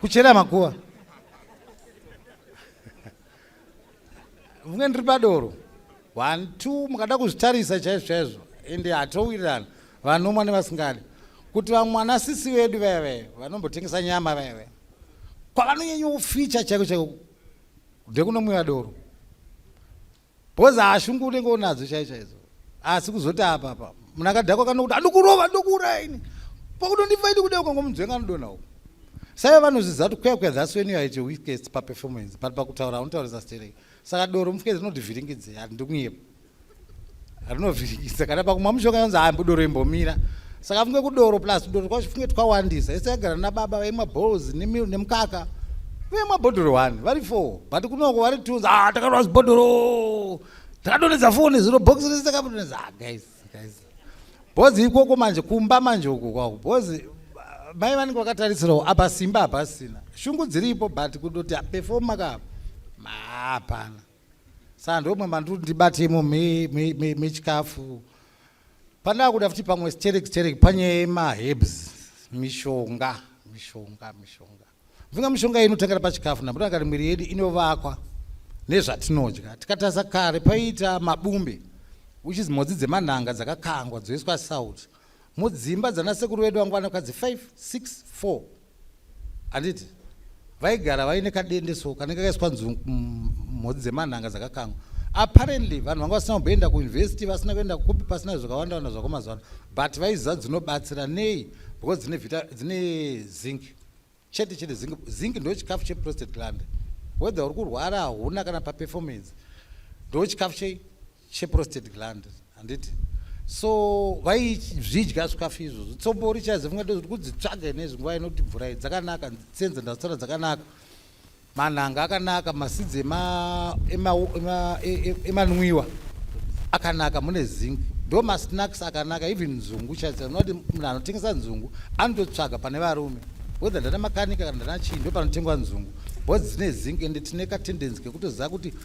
kuchera makuva vunge ndiri padoro one two mukada kuzvitarisa chaizvo chaizvo ende hatowirirana vanomwa nevasingadi kuti vamwana sisi vedu veve vanombotengesa nyama veve kwavanonyanya kuficha chaiko chaiko ndekunomwiva doro Boza hashungu unenge unadzo chai chaidzo asi kuzoti apa apa munhu akadhakwa kana kuti andikurova ndokuuraya ini pakudondifa ini kudai ukangomunzwenga anodona uko saive vanozviziva kuti kuya kuya that's when you are at your weakest paperformance but pakutaura unotaurisa stereki saka doro mufukezi rinodivhiringidze handikunyepa rinovhiringidza kana pakumwa mushonga yonzi hambo doro imbomira saka funge kudoro plus tudoro twacho funge twawandisa ese agara nababa vaimwa balls nemukaka vaimwa bhodhoro one vari four but kunoko vari two ah takarwa zibhodhoro takadonedza foni ziro box rese takadonedza ah guys guys bhozi ikoko manje kumba manje uko kwako bhozi mai vanenge vakatarisirawo apa simba hapasina shungu dziripo but kutoti ah, performa kapa hapana sandomwe manduri ndibate imo mechikafu me, me, me pandaa kuda futi pamwe sterek sterek panye mahebs mishonga mishonga mishonga mvinga mishonga inotangira pachikafu napo takati mwiri yedu inovakwa nezvatinodya tikatasa kare paiita mabumbe which is mhodzi dzemanhanga dzakakangwa dzoiswa salt mudzimba dzanasekuru vedu vangwana kadzi 5 6 4 handiti vaigara vaine kadende so kanenge kaiswa nzungu mhodzi dzemanhanga dzakakangwa apparently vanhu vanga vasina kumboenda kuuniversity vasina kuenda kupi pasina zvakawanda wanda zvako mazuvano but vaiziva dzinobatsira nei because dzine vita dzine zinc chete chete zinc zinc ndo chikafu cheprostate gland whether uri kurwara hauna kana paperformance ndo chikafu chei cheprostate gland handiti so vaizvidya zvikafu izvozvo tsombo richazifunga tozoti kudzitsvaga inezvi nguva inoti mvura iyi dzakanaka senza ndazitsara dzakanaka manhanga akanaka masidzi emanwiwa e, e, e, akanaka mune zinc ndo masnacks akanaka even nzungu chaisa unoti munhu anotengesa nzungu anototsvaga pane varume wedha ndana makanika kana ndana chii ndo panotengwa nzungu bcause dzine zinc ende tine katendency kekutoziva kuti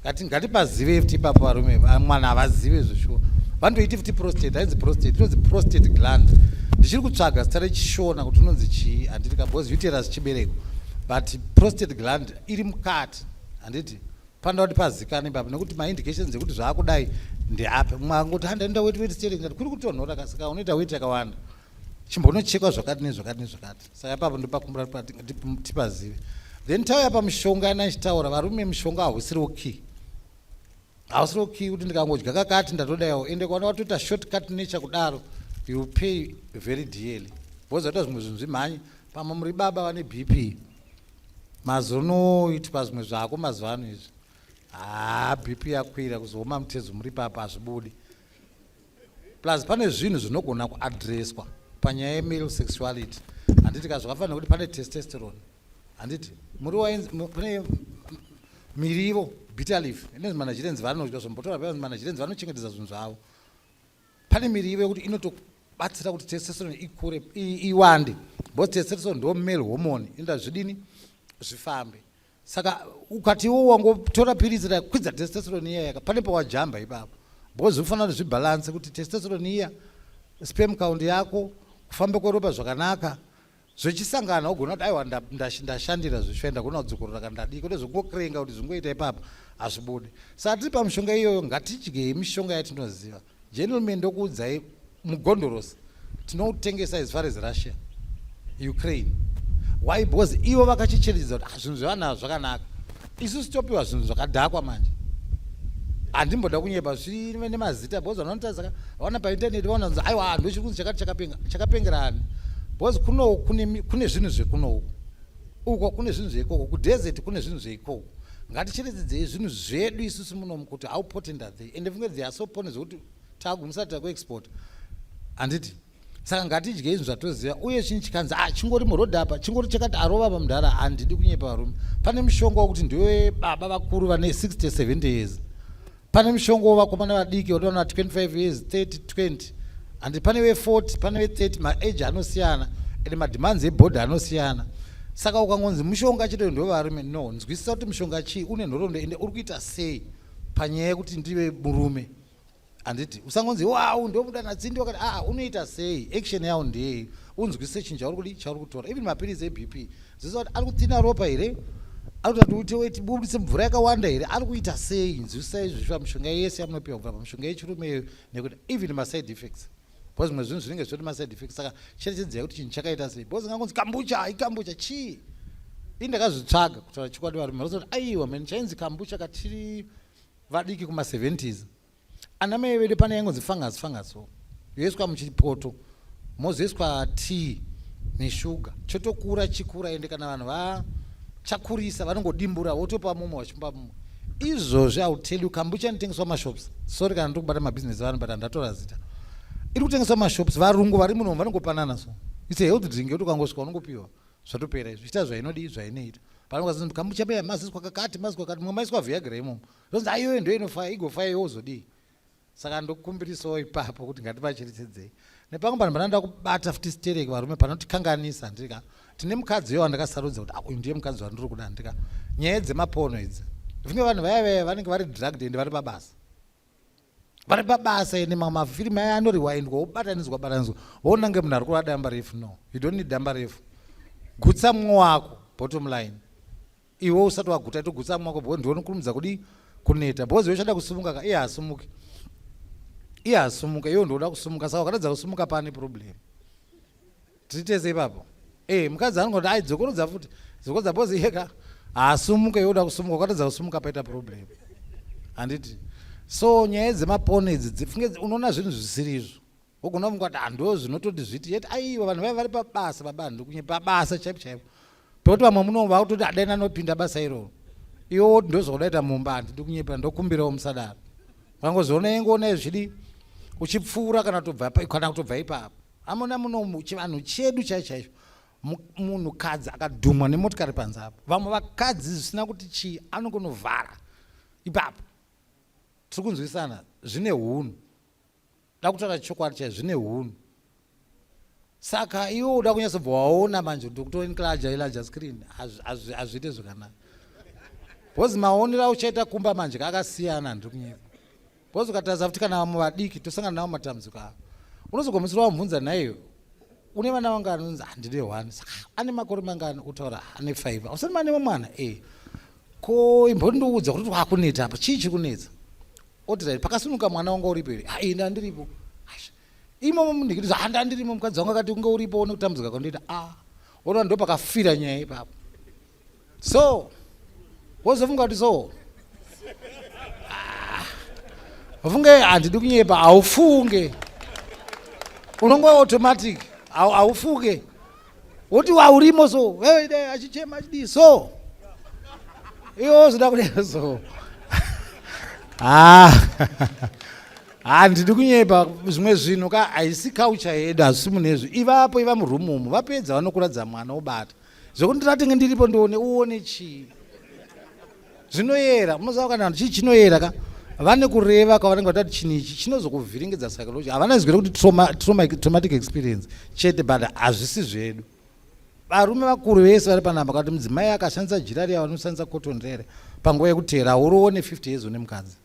ngati ngatipazive fti ipapo varume mwana havazive zveshuwa vanotoiti fti prostate hainzi prostate inonzi prostate gland ndichiri kutsvaga zita rechishona kuti unonzi chii handiti ka because uteras chibereko but prostate gland iri mukati handiti panoda kuti pazikana ipapo nekuti maindications ekuti zvaakudai ndeapi mumwe angoti handaenda weti weti stering kuri kutonhora kasika unoita weti yakawanda chimbonochekwa zvakati nezvakati nezvakati saka ipapo ndopakumbira tipazive then tauya pamushonga yana ichitaura varume mushonga hausiri okay hausiri okay kuti ndikangodya kakati ndatodayawo ende kwaona watoita short cut nature kudaro you pay very dearly vozoita zvimwe zvinhu zvimhanyi pamwe muri baba vane b p mazonoiti pazvimwe zvako mazuva ano izvi haa b p yakwira kuzooma mutezo muri papa hazvibudi plus pane zvinhu zvinogona kuadreswa panyaya yemale sexuality handiti ka zvakafanira kuti pane testosterone handiti muriwo pane mirivo bitter leaf ine manajirenzi vanodya zvombotora pa manajirenzi vanochengetedza zvinhu zvavo pane mirivo yekuti inotobatsira kuti testosterone ikure iwande because testosterone ndo male hormone inoda zvidini zvifambe saka ukatiwo wangotora piritsi rakwidza testosterone iya yaka pane pawajamba ipapo because ufanira kuti zvibhalanse kuti testosterone iya spam count yako kufamba kweropa zvakanaka zvechisangana ugona kuti aiwa ndashandira zvishwa ndagona kudzokorora kana ndadii kute zvokungokurenga kuti zvingoita ipapa hazvibude saka tiri pamishonga iyoyo ngatidyei mishonga yatinoziva Gentlemen ndokuudzai mugondorosi tinoutengesa as far as Russia Ukraine why because ivo vakachicherechedza kuti ah, zvinhu zvevanhu zvakanaka isu sitopiwa zvinhu zvakadhakwa manje handimboda kunyepa zvive nemazita because vanotarisaka vaona paintaneti vaona kunzi aiwa ndochiri kunzi chakati chakapenga chakapengera ani because kunoku kune zvinhu zvekunoku uko kune zvinhu zveikoko kudesert kune zvinhu zveikoko ngaticheredzedzei zvinhu zvedu isusu munomu kuti how potent are they ende funge they are so potent zvekuti tagumisa tita kuexport handiti saka ngatidyei zvinhu zvatoziva uye chinyi chikanzi a ah, chingori muroad apa chingori chakati arova ah, pamudhara handidi kunyepa varume pane mushonga wekuti ndiwe baba vakuru vane 60 70 years pane mushongo wevakomana vadiki watoona 25 years 30 20 and pane ve40 pane ve30 maage anosiyana and mademands ebhodhi anosiyana saka ukangonzi mushonga chete ndovarume no nzwisisa kuti mushonga chii une nhorondo ende uri kuita sei panyaya yekuti ndive murume handiti usangonzi wau ndomuda natsindi wakati aa ah, unoita sei action yawo ndeyei unzwisise chinhu chauri kudi chauri kutora even mapiritsi ebp Ziso kuti ari kutina ropa here? Ari kuti uite weti bubutse mvura yakawanda here? Ari kuita sei? Nzwisisai izvi zvifamba mishonga yese yamunopiwa kubva pamishonga yechirume iyoyo nekuti even ma side effects. Because zvimwe zvinhu zvinenge zvichoti ma side effects saka cherechedzai kuti chinhu chakaita sei. Because ngangonzi kambucha, hai kambucha chii? Ini ndakazvitsvaga kutaura chokwadi varume. Rosati aiwa mheni chainzi kambucha katiri vadiki kuma 70s. ana mai vedu pane yaingonzi fungus fungus so yoiswa muchipoto mozoiswa tea neshuga chotokura chikura ende kana vanhu vachakurisa vanongodimbura wotopa mumwe vachipa mumwe izvozvi iwill tell you kambucha anotengeswa mashops sorry kana ndiri kubata mabhizinesi vanhu but handatora zita iri kutengeswa mashops varungu vari munomu vanongopanana so its a health drink yoti ukangosvika unongopiwa zvatopera izvi ita zvainodii zvainoita panokazi kambucha beya maziswa kakati maziswa kakati mumwe maiswa viagra imomo Ndonzi ayoyo ndo inofaya igofaya iwe uzodii. Saka ndokumbirisawo ipapo kuti ngativacherechedzei. Nepamwe panhu pananda kubata futi stereki varume panotikanganisa ndika tine mukadzi uyo wandakasarudza kuti uyu ndiye mukadzi wandiri kuda ndika nyaya dzemapono idzi. Vimwe vanhu vaya vaya vanenge vari drugged ende vari pabasa vari pabasa ende mamwe mafirimu aya anoriwaindwa wobatanidzwa batanidzwa wonange munhu ari kurwa damba refu no you don't need damba refu gutsa mumwe wako bottom line iwe usati waguta togutsa mwako bho ndione kurumidza kudi kuneta bhozi iwe chada kusumuka ka iye hasumuke iye hasumuke iwe ndioda kusumuka saka wakatadza kusumuka pane problem titese ipapo e mukadzi anongoti ai dzokorodza futi dzokorodza bhozi iye ka haasumuke iwe uda kusumuka wakatadza kusumuka paita problem handiti so nyaya dzemapone idzi dzifunge unoona zvinhu zvisiri izvo wogona kumuka kuti handoo zvinototi zviti yet aiwa vanhu vaiva vari pabasa baba handikunye pabasa chaipo chaipo pekuti vamwe muno vakutoti adai nanopinda basa iroro iwo woti ndozvaudaita mumba handi ndikunyepa ndokumbirawo musadaro vangozoona yengoona izvidi uchipfuura kana kutobva kana kutobva ipapo amona muno chivanhu chedu chai chaizvo munhu kadzi akadhumwa nemotikari panze apo vamwe vakadzi zvisina kuti chii anongonovhara ipapo tiri kunzwisana zvine hunhu Ndakutaura chokwadi chaizvo zvine hunhu. Saka iwe uda kunyatsobva waona manje kuti kutora inclaja ilaja screen azviite zvakanaka. Because maonera uchaita kumba manje kakasiyana ndiri kunyika. Because ukataza kuti kana vamwe vadiki tosangana navo matambudziko avo. Unozogomisira wamubvunza naiwe une vana vangani unzi handine ah, one saka ane makore mangani utaura ah, ane five ausati mane wemwana e eh. ko imbondiudza kuti kwakuneta apa chii chiri kunetsa oti right pakasunuka mwana wanga uripo here ha ini andiripo imomo munhu ndikiti handa andirimo mukadzi wangu akati kunge uripo one kutambudzika kwandoita a ah. ona ndo pakafira nyaya ipapo so wozofunga kuti so ah. funge handidi kunyepa haufunge unonge automatic haufunge woti waurimo so achichema achidii so iwo zvoda kudai so ah. handidi kunyepa zvimwe zvinhu ka haisi kaucha hedu hazvisi munezvi ivapo iva murumu umu vapedza vanokuradza mwana obata zvekuti ndatenge ndiripo ndione uone chii zvinoyera munoziva kana vanhu chii chinoyera ka vane kureva kwavanenge vatati chinhu ichi chinozokuvhiringidza psychology havana zivire kuti traumatic experience chete but hazvisi zvedu varume vakuru vese vari panamba kati mudzimai akashandisa jira riya vanoshandisa cotton rere panguva yekuteera hauroone 50 years une mukadzi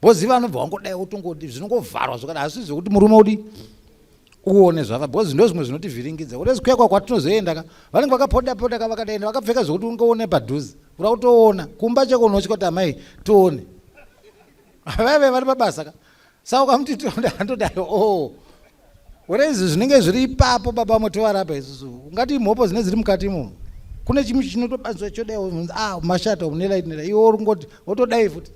Bozi vanobva wangodai wotongoti zvinongovharwa zvakada hazvi zvekuti murume udi uone zvava bozi ndo zvimwe zvinotivhiringidza kuti zikuya kwa kwatinozoenda ka vanenge vakapoda poda ka vakadaenda vakapfeka zvekuti ungoone padhuze ura kutoona kumba cheko unotya kuti amai tione vaive vari pabasa ka saka ukamuti tondandodai o oh. Gore izvi zvinenge zviri ipapo baba motovarapa isusu ungati imhopo zine ziri mukati imomo kune chimwe chinotobatswa chodai ah, mashata unelait nela iwo uri ngoti wotodai futi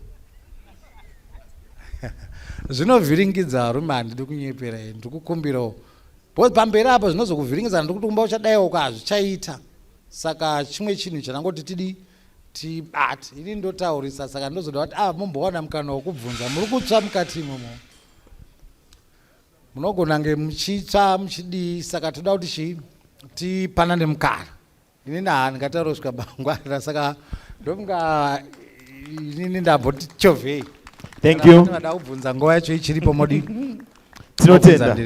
zvinovhiringidza varume handidi kunyepera ini ndiri kukumbirawo because pamberi apo zvinozokuvhiringidza handiri kuti kumba uchadaiwo ko hazvichaita saka chimwe chinhu chandangoti tidii tibate ini ndotaurisa saka ndozoda kuti ah mombowana mukana wokubvunza muri kutsva mukati imomo munogona nge muchitsva muchidii saka toda kuti chii tipanane mukana inini haa ndingataura kusvika mangwana saka ndomunga inini ndamboti chovhei thank you vada kubvunza nguva yacho ichiripo modi tinotenda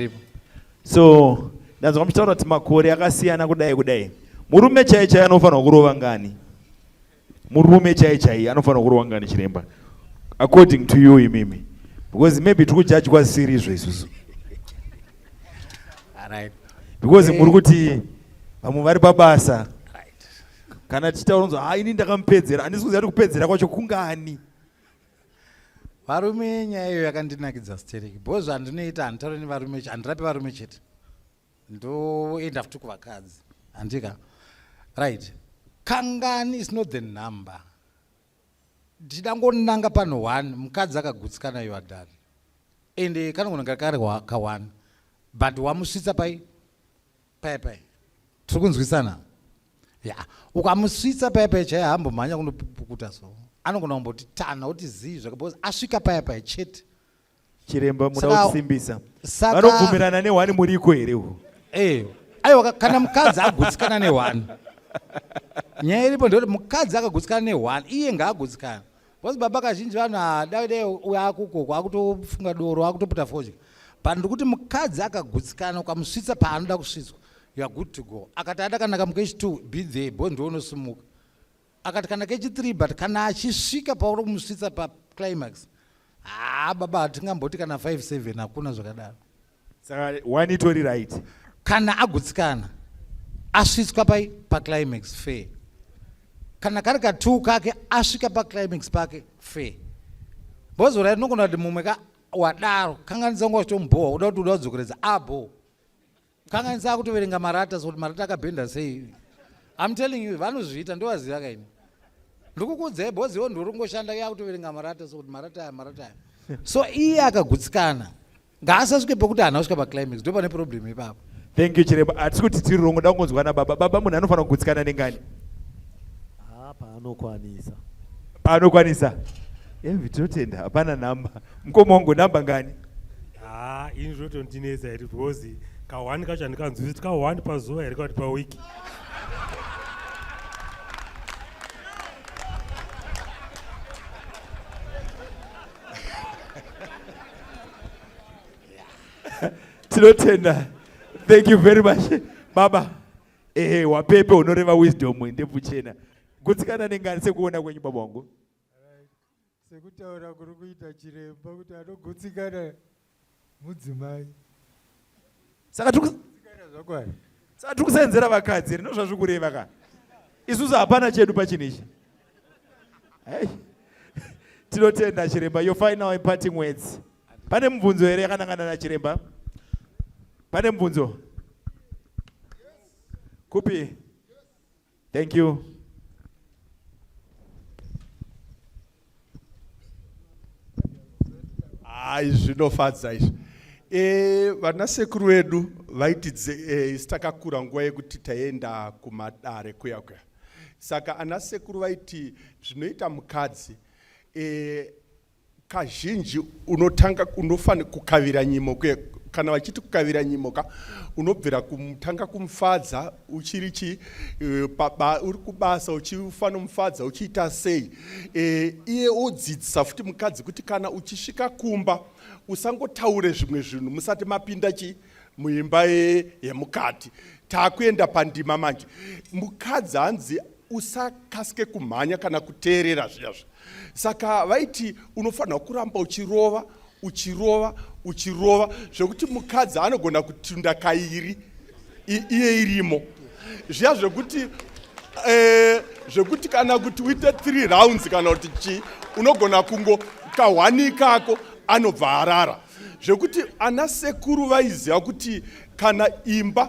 so ndanzwa muchitaura kuti makore akasiyana kudai kudai murume chaiye chaiye anofanirwa kurova ngani murume chai chai anofanira kurwa ngani chiremba according to you imimi because maybe tiri kujajwa zvisiri izvo isusu because muri kuti vamwe vari pabasa kana tichitaura nzwa ha ini ndakamupedzera handisi kuziva kuti kupedzera kwacho kungani varume nyaya iyo yakandinakidza stereki bho zvandinoita handitaure nevarume handirapi varume chete ndoenda futi kuvakadzi handika right kangani is not the number ndichidangonanga panhu one mukadzi akagutsikana you are done ende kanongonanga kari ka one but wamusvitsa pai pai pai tiri kunzwisana ya ukamusvitsa paya paya chaiye hambomhanya kunopukuta so anogona kumboti tana oti zii zvake bcause asvika paya paya chete chiremba muda kusimbisa vanobvumirana nehwani muriko here uhu eh, aiwa kana mukadzi agutsikana nehwani nyaya iripo ndoti mukadzi akagutsikana nehwani iye ngaagutsikana bcause baba kazhinji vanhu adade uyo akukoko akutofunga doro akutoputa fodya but ndikuti mukadzi akagutsikana ukamusvitsa paanoda kusvitswa youare good to go akati adakanaka mukechi two be there bcause ndoonosumuka akati kana kechi 3 but kana achisvika pauri kumusvitsa paclimax haa baba hatingamboti kana 57 hakuna zvakadaro saka one itori right kana agutsikana asvitswa pai paclimax fair kana kari ka two kake asvika paclimax pake fair bozora rinogona kuti mumwe ka wadaro kanganidza ngo wachitomubhowa uda kuti uda kudzokeredza abho ah, kanganisa akutoverenga marata so kuti marata akabhenda sei im telling you vanozviita ndovaziva kaini ndikukuudzai bhozi iwo ndiuringoshanda iye akutoverenga marata so kuti marata aya marata aya so iye akagutsikana ngaasasvike pokuti hana kusvika paclimax ndo pane problem ipapo thank you chiremba hatisi kuti tiri rongo da kungonzwana baba baba munhu anofanira kugutsikana nengani ah, paanokwanisa paanokwanisa evi tinotenda hapana nhamba mukoma wangu nhamba ngani haa ini zvotondinetsa here because kahwani kacho handikanzwisisi kahwani pazuva here kati pawiki tinotenda thank you very much baba ehe wapepe unoreva wisdom ndebvu chena gutsikana nengani sekuona kwenyu baba wangu Sekutaura kuri kuita chiremba kuti anogutsikana mudzimai. Saka tiri kugutsikana zvakwari. Saka tiri kusenzera vakadzi rino zvazviri kureva ka. Isusu hapana chedu pachinhu ichi. Hey. Tinotenda chiremba your final imparting words. Pane mubvunzo here yakanangana na chiremba? Pane mubvunzo? Kupi? Thank you. Hayi zvinofadza izvi. E, vana sekuru vedu vaiti e, isu takakura nguva yekuti taienda kumadare kuya kuya. Saka ana sekuru vaiti zvinoita mukadzi e, Kazhinji unotanga unofana kukavira nyimo kuye kana vachiti kukavira nyimo ka unobvira kumutanga kumufadza uchiri chi e, paba uri kubasa uchifana mufadza uchiita sei e, iye odzidzisa futi mukadzi kuti kana uchisvika kumba usangotaure zvimwe zvinhu musati mapinda chi muimba yemukati takuenda pandima manje mukadzi hanzi usakasike kumhanya kana kuteerera zviyazvi saka vaiti unofanira kuramba uchirova uchirova uchirova zvekuti mukadzi anogona kutunda kairi iye irimo zviya zvekuti eh, zvekuti kana kuti uite three rounds kana kuti chii unogona kungo kahwani ikako anobva arara zvekuti ana sekuru vaiziva kuti kana imba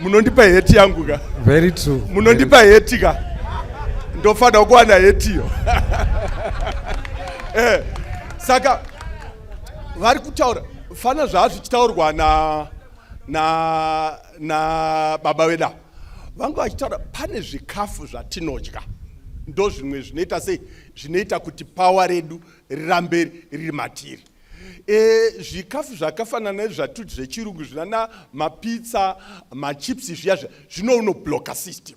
munondipa heti yangu ka very true munondipa heti ka ndofanira kuwana hetiyo eh, saka vari kutaura fana zvaa zvichitaurwa na na na baba veda vanga vachitaura pane zvikafu zvatinodya ndo zvimwe zvinoita sei zvinoita kuti pawa redu rirambe riri matiri e, zvikafu zvakafanana nezvatuti zvechirungu zvinana mapitsa machips zviya zviya zvino unobloka system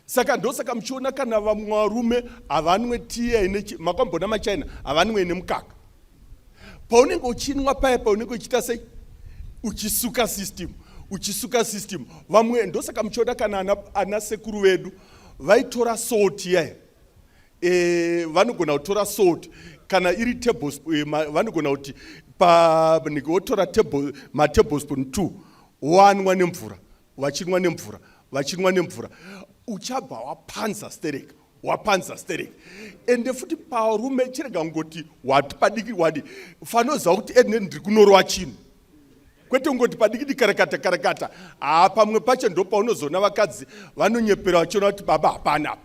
saka ndosaka muchiona kana vamwe varume havanwe tiya ine makamboona machina havanwe ine mukaka paunenge uchinwa paya paunenge uchiita sei uchisuka system uchisuka system vamwe ndosaka muchiona kana ana, ana sekuru vedu vaitora salt yaya Eh, vanogona kutora salt kana iri tablespoon eh, vanogona kuti wotora matablespoon two wanwa nemvura vachinwa nemvura vachinwa nemvura uchabva wapanza stereka wapanza stereka ende futi parume chirega kungoti wati padiki wadi fanoziva kuti ene ndiri kunorowa chinhu kwete kungoti padikidi karakata karakata haa pamwe pacho ndo paunozoona vakadzi vanonyepera vachiona kuti baba hapana apa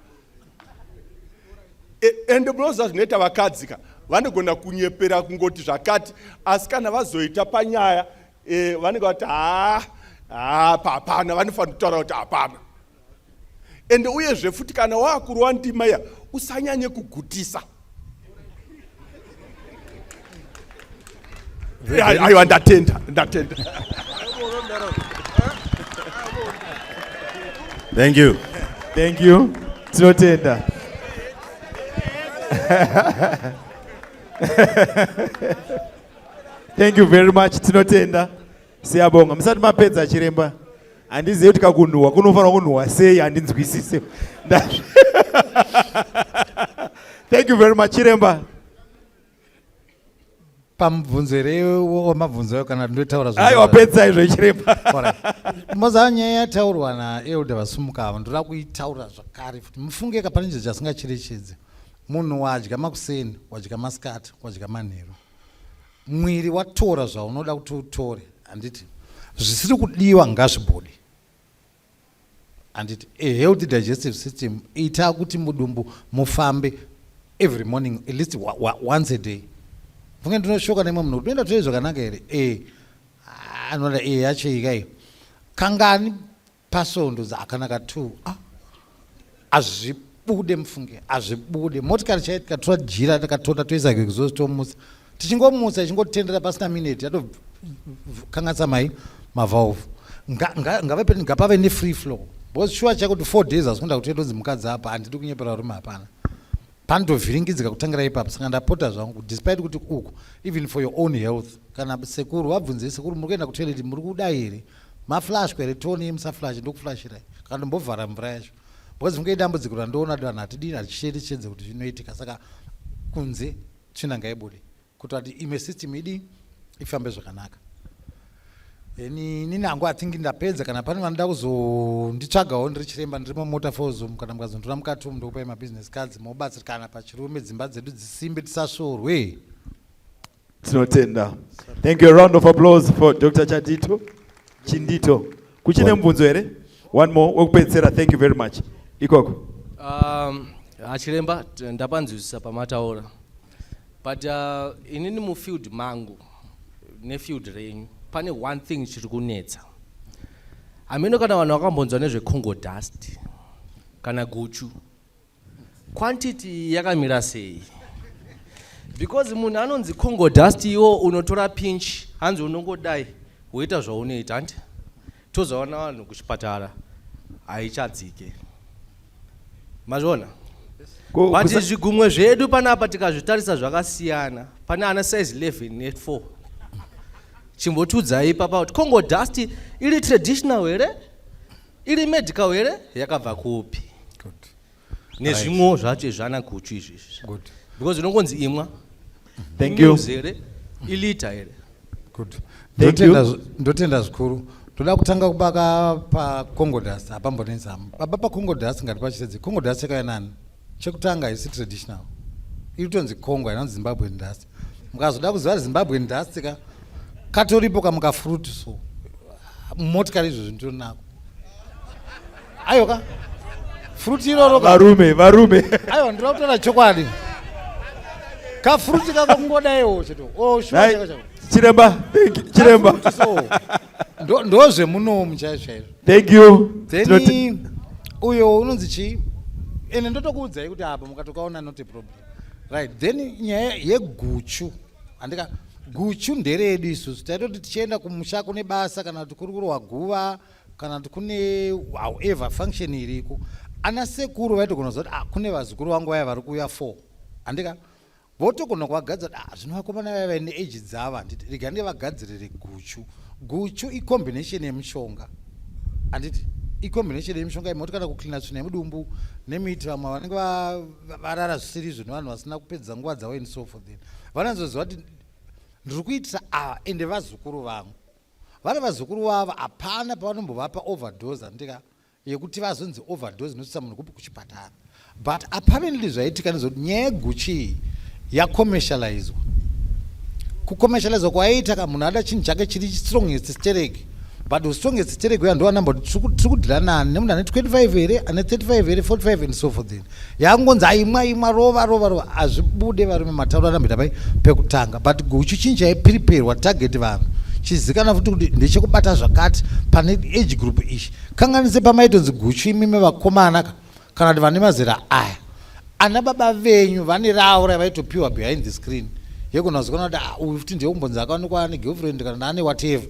e, ende munoziva zvinoita vakadzi ka vanogona kunyepera kungoti zvakati asi kana vazoita panyaya e, vanenge vati haa haa pahapana vanofanira kutaura kuti hapana ende uyezve futi kana waakurwa ndima iya usanyanye kugutisa aiwa ndatenda ndatenda thank you thank you tinotenda thank you very much tinotenda Siyabonga musati mapedza chiremba. Handizivi kuti kakunhuhwa kunofanirwa kunhuhwa sei handinzwisise. Thank you very much chiremba. pamubvunzo here wamabvunzo ayo kana ndotaura aiwa pedza izvo ichiremba mozava nyaya yataurwa naelder vasumuka ava ndoda kuitaura zvakare futi mufunge kapane chinhu chasingacherechedze munhu wadya makuseni wadya masikati wadya manheru mwiri watora zvaunoda kuti utore handiti zvisiri kudiwa ngazvibude handiti a healthy digestive system ita kuti mudumbu mufambe every morning at least wa, wa, once a day funge ndinoshoka nemwe munhu kuti unoenda toye zvakanaka here e anoda e yacho ika iyo kangani Pasvondo akanaka tu ah, azvibude mufunge azvibude motikari chaiyo tikatora jira takatora toisa kekuzozi tomutsa tichingomutsa ichingotendera pasina mineti yatokangatsa mai mavalve ngave peni ngapave nefree flow because shuwa chako kuti four days hazikunda kuti yatodzi mukadzi apa handidi kunyepera rume hapana Pandovhiringidzika kutangira ipapo saka ndapota zvangu despite kuti uku even for your own health kana sekuru vabvunze sekuru muri kuenda kutoilet muri kuda here maflashwa here toni yemusaflashe ndokuflashirai kana ndombovhara mvura yacho because funge idambudziko randoona vanhu hatidini hatichete chedze kuti zvinoitika saka kunze tsvina ngaibude kuti ati imwe system idi ifambe zvakanaka ini nini hangu atingi ndapedza kana pane vanoda kuzonditsvagawo ndiri chiremba ndiri mumota fozom kana mukazonditora mukati umu ndokupai mabusiness cards mobatsirikana pachirume dzimba dzedu dzisimbe tisasvorwe tinotenda thank you round of applause for dr chadito chindito kuchine mubvunzo here one more wekupedzisira thank you very much ikoko um, achiremba ndapanzwisisa pamataura but uh, inini mufield mangu nefield renyu pane one thing chiri kunetsa hameno kana vanhu vakambonzwa nezvecongo dust kana guchu quantity yakamira sei because munhu anonzi congo dust iwo unotora pinch hanzi unongodai woita zvaunoita hanti tozoona vanhu kuchipatara haichadzike mazviona but zvigumwe zvedu panapa tikazvitarisa zvakasiyana pane ana size 11 ne4 chimbotiudzai ipapa kuti congo dust iri traditional here iri medical here yakabva kupi nezvimwewo zvacho izvana guchu izvi izvi Good. because unongonzi imwa Thank you. Imuse here ilita here Good. Thank Ndotenda you. zvi- ndotenda zvikuru toda kutanga kubaka pacongodas hapambonetsi hama baba pacongodas ngati pachitedze congodas chekaya nani chekutanga haisi traditional iri kutonzi congo hainanzi zimbabwe ndasi mukazoda kuziva kuti zimbabwe ndasti ka katoripo kamukafruti so motikari izvo zvinhu tionako aiwa ka fruti iroro varume varume aiwa ndinoda kutaura chokwadi kafruti kako kungodaiwo cheto oh, chiremba chiremba ndozvemunomu chaizvo chaizvo thank you then uyo unonzi chii ende ndotokuudzai kuti apa mukatokaona not a problem right then nyaya yeguchu handika guchu nderedu isusu taitoti tichienda kumusha kune basa kana kuti kuri kurohwa guva kana kuti kune however function iriko ana sekuru vaitogona zoti ah, kune vazukuru vangu vaya vari kuuya four handika votogona kuvagadza kuti ah, zvino vakomana vaya vaine age dzavo handiti rega ndevagadzirire guchu guchu icombination yemushonga handiti icombination yemushonga imoti kana kuclina tsvina yemudumbu nemiti vamwe vanenge varara zvisiri izvo nevanhu vasina kupedza nguva dzavo and so for then vanozoziva kuti ndiri kuitisa ava ah, ende vazukuru vangu vana vazukuru vavo hapana pavanombovapa overdose andika yekuti vazonzi overdose inosvitsa munhu kupi kuchipatara but apparently zvaitika nezvekuti nyaya yeguchii yacommercializwa kucommercializwa kwaiita ka munhu ada chinhu chake chiri strongest stereki but usitonge ziterego ya ndoa number tiri kudhila nani nemunhu ane 25 here ane 35 here 45 and so forth yakungonzi aimwa imwa rova rova rova hazvibude varume matauro anamboita pai pekutanga but guchu chinyi chaipriperwa target vanhu chizikana futi kuti ndechekubata zvakati pane age group ichi kanganise pamaitonzi guchu imimi vakomanaka kana kuti vane mazera aya ana baba venyu vane ravo ravaitopiwa behind the screen yekunazikana kuti ah, uyu futi ndiye kumbonzi akaonekwa ane girlfriend kana naane whatever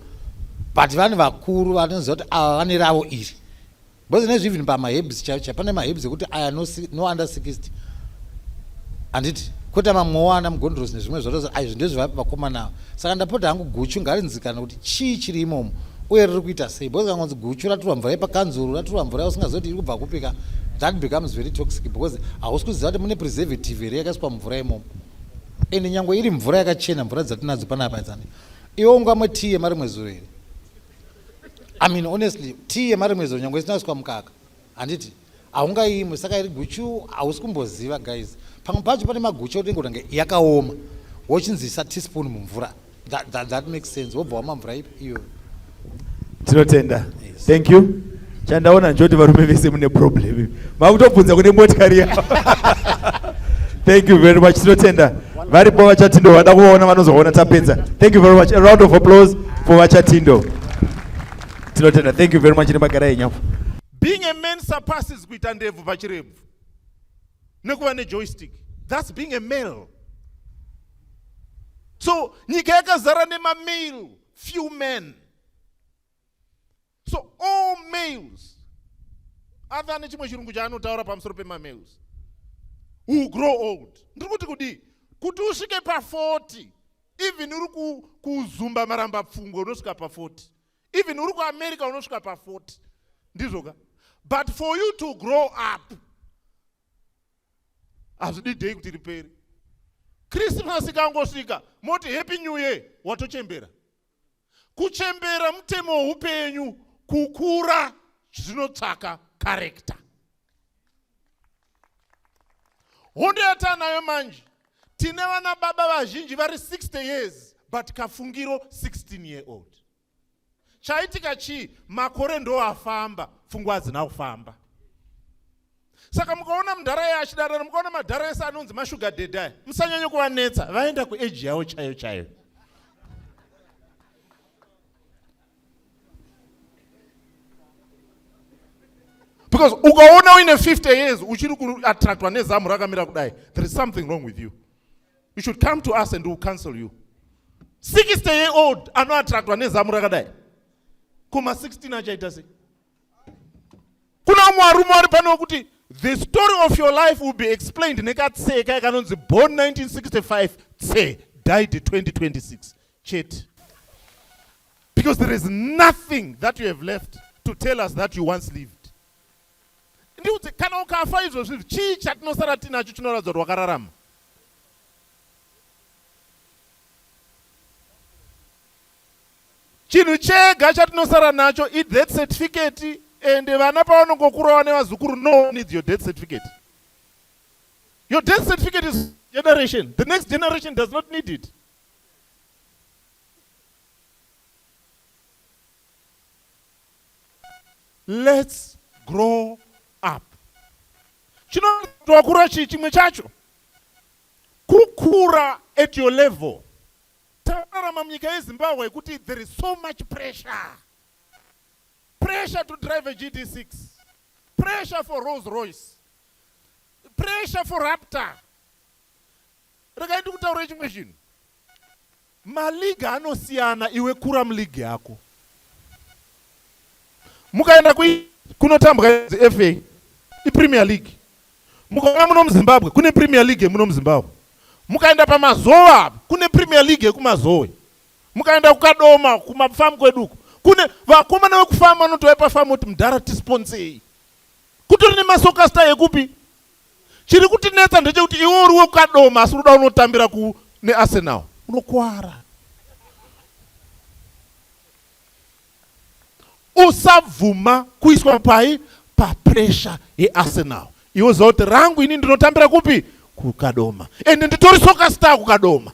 but vane vakuru vanoziva kuti ava vane ravo iri because nezvi even pamahebs chaicha pane mahebs ekuti aya no, no under 60 handiti kwete mamwewo ana mugondorosi nezvimwe zvotozi aizvi ndezvevakomana saka ndapota hangu guchu ngarinzikana kuti Chii chiri imomo uye riri kuita sei because kangonzi guchu raturwa mvura yepakanzuru raturwa mvura yausingazoti iri kubva kupika that becomes very toxic because hausi kuziva kuti mune preservative here yakaiswa mvura imomo ende nyange iri mvura yakachena mvura dzatinadzo panapa idzani iwe ungamwe tii yemarimwe zuro here i mean honestly tii yemarimwe zuro nyange isinaiswa mukaka handiti haungaimwe saka iri guchu hausi kumboziva guys pamwe pacho pane maguchu aunenge unenge yakaoma wochinzisa teaspoon mumvura that, that, that makes sense wobva wama mvura ipi iyo tinotenda yes. thank you chandaona njoti varume vese mune problem makutobvunza kune motikari yavo thank you very much tinotenda varipo vachatindo vada kuvaona vanozoona tapedza thank you very much a round of applause for vachatindo tinotenda thank you very much nemagara enyapo Being a man surpasses kuita ndebvu pachirebvu nekuva nejoystick. That's being a male. So nyika yakazara nemamale, few men. So all males, other ane chimwe chirungu chaanotaura pamusoro pemamales, who grow old. Ndiri kuti kudii? Kuti usvike pa 40 even uri kuzumba maramba pfungwe unosvika pa 40 even uri kuamerica unosvika pa40 ndizvo ka but for you to grow up hazvidi day kuti riperi krismasi kangosvika moti happy new year watochembera kuchembera mutemo weupenyu kukura zvinotsvaka karekta hondo yataanayo manje tine vana baba vazhinji vari 60 years but kafungiro 16 year old chaitika chii makore ndo afamba pfungwa hadzina kufamba saka mukaona mudhara ye achidarana mukaona madhara ese anonzi mashuga dedai musanyanye kuvanetsa vaenda kueji yavo chaiyo chaiyo because ukaona uine 50 years uchiri kuattractwa nezamu rakamira kudai there is something wrong with you you should come to us and we'll counsel you 60 year old anoattractwa nezamu rakadai kuma 16 achaita sei kuna vamwe varume vari pano vekuti the story of your life will be explained nekatseka yakanonzi born 1965 tse died 2026 chete because there is nothing that you have left to tell us that you once lived ndiudze kana ukafa izvozvi chii chatinosara tinacho chinoratidza kuti wakararama Chinhu chega chatinosara nacho i death certificate and vana pavanongokurawo nevazukuru no one needs your death certificate. Your death certificate is generation. The next generation does not need it. Let's grow up. Chinoakura chii chimwe chacho? Kukura at your level. Takurarama munyika yeZimbabwe yekuti there is so much pressure. Pressure to drive a GD6. Pressure for Rolls Royce. Pressure for Raptor. Regai ndikutaurire chimwe chinhu. Maliga anosiyana iwe kura muliga yako. Mukaenda kunotambwa FA iPremier League Mukauya muno muZimbabwe kune Premier League yemuno muZimbabwe. Mukaenda pamazowe apa kune Premier League yekumazowe. Mukaenda kuKadoma kumafamu kwedu uko kune vakomana vekufamu vanotouya pafamu kuti mdhara tisponsei. Kutori nemasokasta yekupi? Chiri kutinetsa ndechekuti iwe uri wekuKadoma asi unoda unotambira ku neArsenal. Unokuwara. usabvuma kuiswa pai papressure yearsenal iwe uziva kuti rangu ini ndinotambira kupi kukadoma ende nditori soka star kukadoma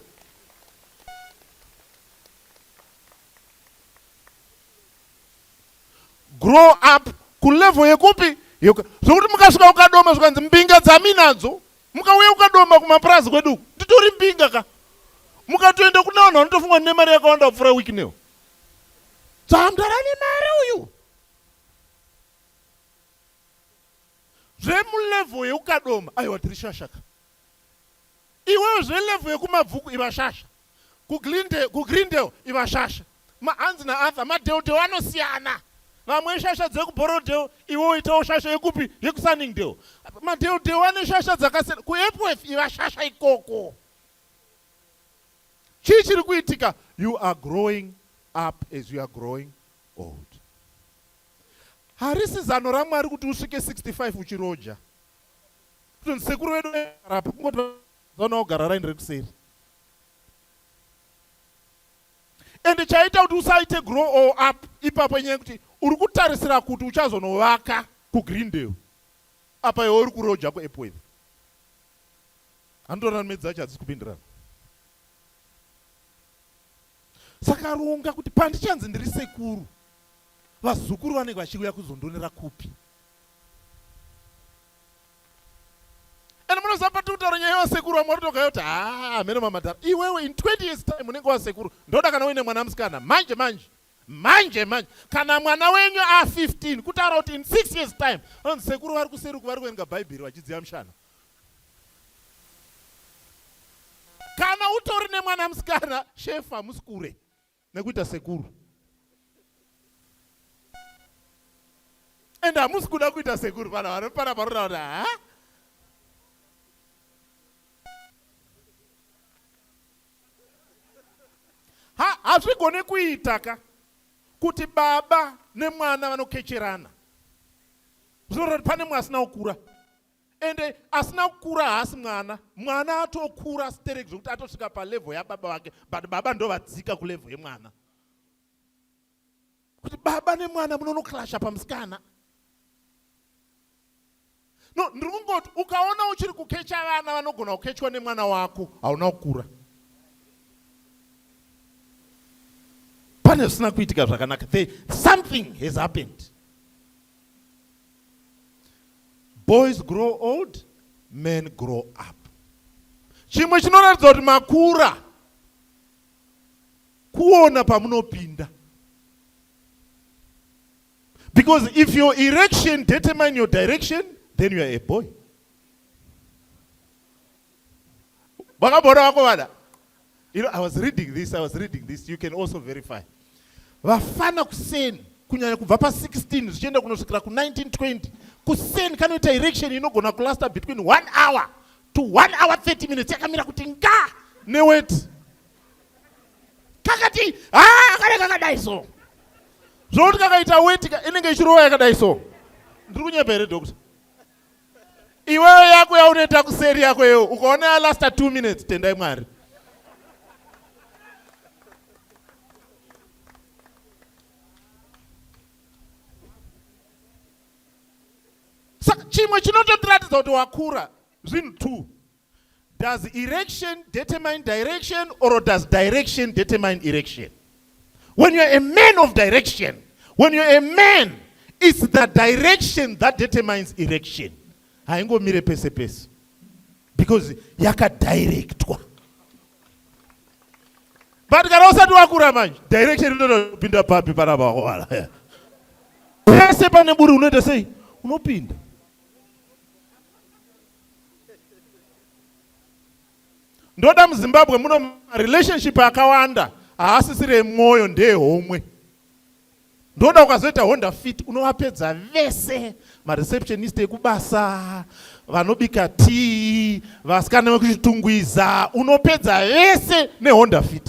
grow up kulevel yekupi zvokuti mukasvika kukadoma zvikanzi mbinga dzaminadzo mukauya kukadoma kumapurazi kwedu nditori mbinga ka mukatoenda kune vanhu vanotofungwa nemari yakawanda kupfuura wiki newo Dzamdara ne mari uyu. Zvemu level yeukadoma aiwa tiri shasha ka. Iwewe zve level yekumabvuku iva shasha. Ku Glendale, ku Greendale iva shasha. Ma hanzi na Arthur madeodeo anosiyana. Vamwe shasha dzeku Borrowdale iwe oitawo shasha yekupi yeku Sunningdale. Madeodeo ane shasha dzakasiyana. Ku Epworth iva shasha ikoko. Chii chiri kuitika? You are growing up as you are growing old. Harisi zano raMwari kuti usvike 65 uchiroja. Kutonzi sekuru vedu varapo kungoti vazoona ogara raini rekuseri. And chaita kuti usaite grow all up ipapo inyaya kuti uri kutarisira kuti uchazonovaka kuGreendale apa iwe uri kuroja kuEpworth. anotorana medzi dzacho hadzisi kupindirana saka ronga kuti pandichanzi ndiri sekuru vazukuru vanenge vachiuya kuzondonera kupi and munoziva patiri kutaura nyaya yevasekuru vamwe varitogayo kuti haa hameno mamadhara iwewe in 20 years time unenge wasekuru ndoda kana uine mwana musikana manje manje manje manje kana mwana wenyu a15 kutaura kuti in 6 years time anonzi sekuru vari kuseruku vari kuverenga bhaibheri vachidziya mushana kana utori nemwana musikana shefu hamusi kure nekuita sekuru and hamusi kuda kuita sekuru vanhu vanopara paroda kuti ha ha hazvigone kuita ka kuti baba nemwana vanokecherana zvinoroti pane mwe asina kukura ende asina kukura haasi mwana mwana atokura sterek zvekuti atosvika palevel yababa vake but baba ndovadzika kulevel yemwana kuti baba nemwana munonoklasha pamusikana no ndiri kungoti ukaona uchiri kukecha vana vanogona kukechwa nemwana wako hauna kukura pane zvisina kuitika zvakanaka the something has happened Boys grow old, men grow up. Chimwe chinoratidza kuti makura kuona pamunopinda because if your erection determine your direction then you are a boy Vakabora vako vada. You know, I was reading this, I was reading this. You can also verify. Vafana kuseni kunyanya kubva pa 16 zvichienda kunosvikira ku 1920 kuseni kanoita erection inogona kulasta between 1 hour to 1 hour 30 minutes yakamira kuti nga neweti kakati ha ah, kane kakadai so zvokuti kakaita weti inenge ichirowa yakadai so ndiri kunyepa here doctor iwewe yako yaunoita kuseri yako yewo ukaona yalasta two minutes tendai mwari saka chimwe chinototiratidza kuti wakura zvinhu two Does erection determine direction or does direction determine erection? When you're a man of direction, when you're a man, it's the direction that determines erection. Haingomire pese pese. Because yakadirectwa. But kana usati wakura manje, direction inotopinda papi pana bawala. Pese pane buri unoita sei? Unopinda. ndoda muzimbabwe muno relationship akawanda haasisire mwoyo ndeye homwe ndoda ukazoita honda fit unovapedza vese mareceptionist ekubasa vanobika tii vasikana vekuchitungwiza unopedza vese nehonda fit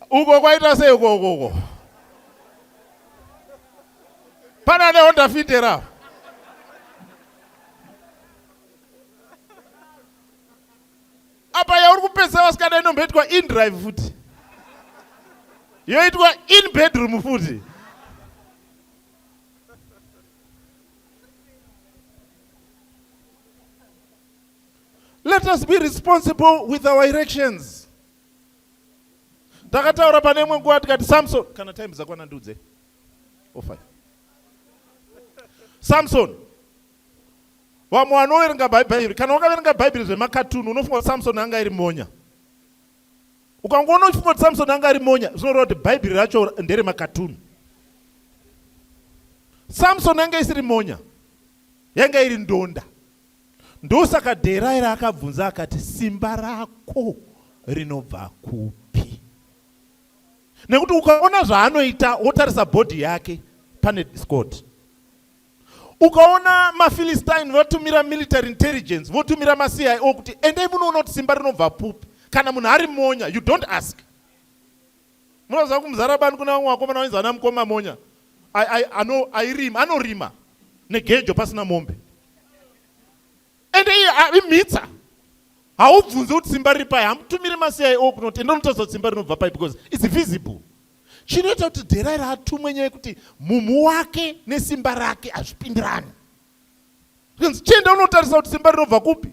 Uko kwaita sei uko uko uko? Pana ne Honda Fit here apo? Apa yauri kupedzisa vasikana inomboitwa in drive futi. Yoitwa in bedroom futi. Let us be responsible with our erections. Takataura pane imwe nguva tikati Samson, kana time dzakwana ndiudze. Oh five. Samson. Vamwe vanoverenga Bhaibheri, kana wakaverenga Bhaibheri zvemakatuni unofunga kuti Samson anga iri monya. Ukangoona uchifunga kuti Samson anga ari monya, zvinoreva kuti Bhaibheri racho ndere makatuni. Samson yanga isiri monya, yanga iri ndonda. Ndosaka Dheraira akabvunza akati, Simba rako rinobva kupi? Nekuti ukaona zvaanoita wotarisa bhodhi yake pane discord. Ukaona maPhilistine votumira military intelligence, votumira maCIO kuti endai munoona kuti simba rinobva pupi. Kana munhu ari monya, you don't ask. Munoziva kumuzara bani kuna vamwe vakomana vainzi vana mukoma monya airima anorima negejo pasina mombe ende iye imhitsa haubvunze kuti simba riri pai hamutumiri macio kunoti ende unotaridza kuti simba rinobva pai because its visible chinoita kuti dherai raatumwe nyaya yekuti mumhu wake nesimba rake hazvipindirani zvinzi chienda unotarisa kuti simba rinobva kupi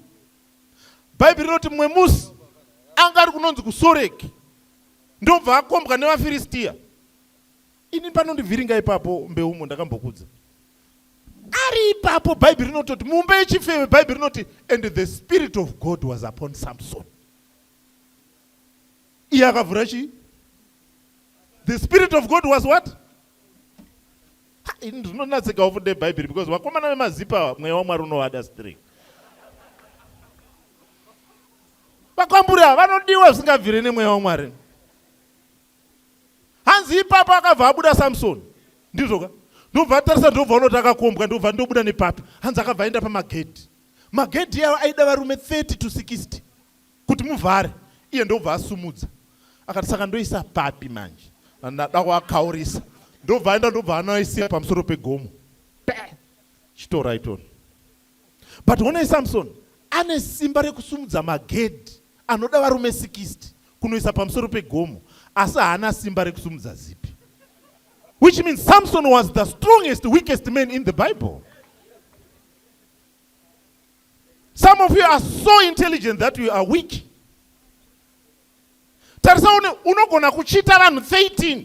bhaibheri rinoti mumwe musi anga ari kunonzi kusoreki ndobva akombwa nevafiristia ini panondivhiringa ipapo mbeumo ndakambokudza ari ipapo bhaibheri rinototi mumba yechifeve bhaibheri rinoti and the spirit of god was upon samson iye akavhura chii the spirit of god was what ini ndinonatsika ufunde bhaibheri because vakomana vemazipa mweya wamwari unovada straight Vakwamburi ava vanodiwa zvisingabvire nemweya waMwari. Hanzi ipapo akabva abuda Samsoni. Ndizvo ka? Ndobva atarisa ndobva unoti akakombwa ndobva ndobuda nepapi. Hanzi akabva aenda pamagedhi. Magedhi aya aida varume 30 to 60 kuti muvhare. Iye ndobva asumudza. Akati saka ndoisa papi manje? Ndada kuakaurisa. Ndobva aenda ndobva anoisia pamusoro pegomo. Pe! Chitora itoni. But honai Samson ane simba rekusumudza magedhi anoda varume 60 kunoisa pamusoro pegomo asi haana simba rekusumudza zipi. Which means Samson was the strongest weakest man in the Bible. Some of you are so intelligent that you are weak. Tarisa unogona kuchita vanhu 13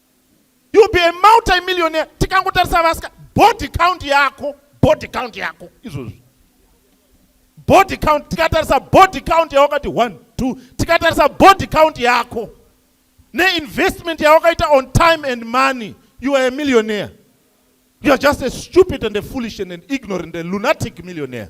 you be a multimillionaire tikangotarisa vasika body count yako body count yako izvozvi body count tikatarisa body count yawakati one two tikatarisa body count yako neinvestment yawakaita on time and money you are a millionaire you are just a stupid and a foolish and an ignorant and lunatic millionaire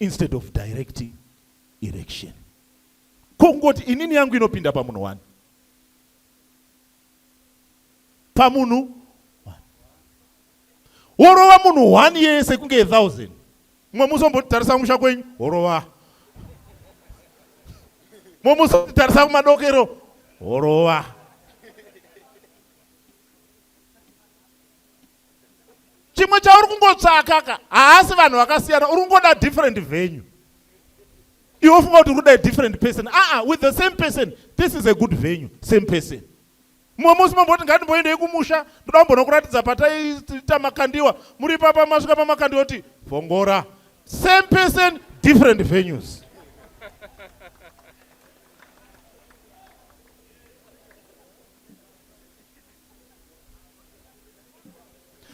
instead of directing erection ko kungoti inini yangu inopinda pamunhu wani pamunhu worova munhu one yese kunge a thousand mumwe musi ombotitarisa kumusha kwenyu worova mumwe musi otitarisa kumadokero worova chimwe chauri kungotsvaka ka haasi vanhu vakasiyana uri kungoda different venue iwe ufunga kuti uri kuda different person aa with the same person this is a good venue same person mumwe musi mamboti ngatimboendei kumusha ndoda kumbonokuratidza pataiita makandiwa muri papa masvika pamakandiwa kuti vongora same person different venues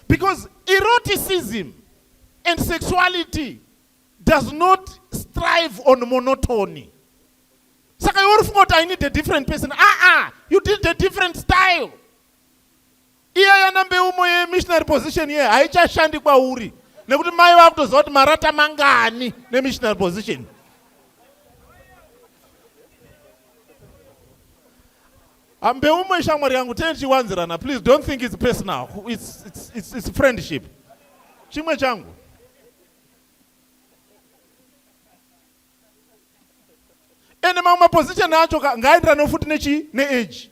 Because eroticism and sexuality does not strive on monotony. Saka iwe urifunga kuti I need a different person. Ah ah, you did a different style. Iya yana mbeumo ye missionary position ye haichashandi kwauri nekuti mai vakutoziva kuti marata mangani ne missionary position. I'm Beumwe shamwari yangu tichiwanzirana please don't think it's personal it's, it's, it's, it's friendship chimwe changu ende mamwe maposition acho ngaaenderane futi nechi neage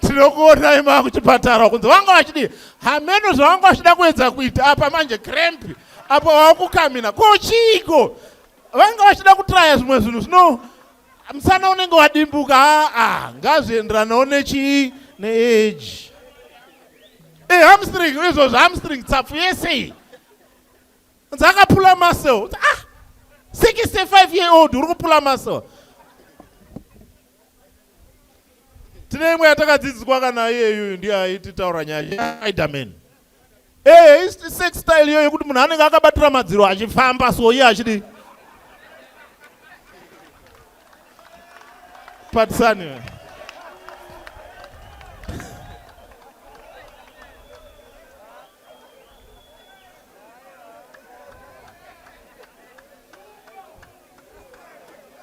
tinokuonai maa kuchipatara kunzi vanga vachidii hameno zvavanga vachida kuedza kuita apa manje cramp apa wakukamina ko chiiko vanga vachida kutraya zvimwe zvinhu zvino musana unenge wadimbuka aa ngazvienderanawo nechii neage e eh, hamstring izvozvo hamstring tsapfu yese iyi dzakapula muscle ah 65 year old uri kupula muscle tine imwe yatakadzidziswa kana iyeyuyu ndiye aiti taura nyaya aidamen ee eh, sex style iyo yekuti munhu anenge akabatira madziro achifamba so iye achidi patisani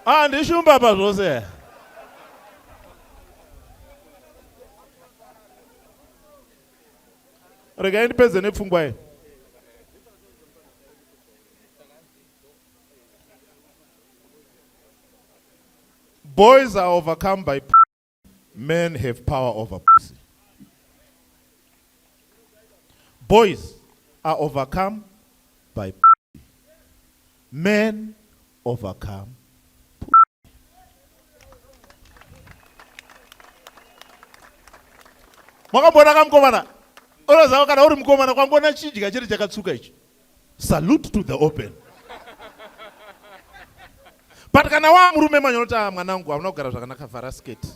Ah, ndishumba pa zvose. Regai ndipedze nepfungwa iyi. Boys are overcome by Men have power over pussy. Boys are overcome by pussy. Men overcome makamboona kamukomana unoziva kana uri mukomana kwangoona chidya chete chakatsuka ichi Salute to the open. But kana wa murume manyota ah, mwanangu hamuna kugara zvakanaka vhara skate.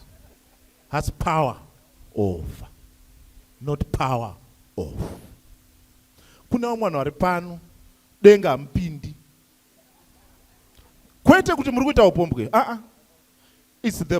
Has power over. Not power off. Kuna vamwe vanhu vari pano denga hamupindi. Kwete kuti muri kuita upombwe. Ah ah. It's the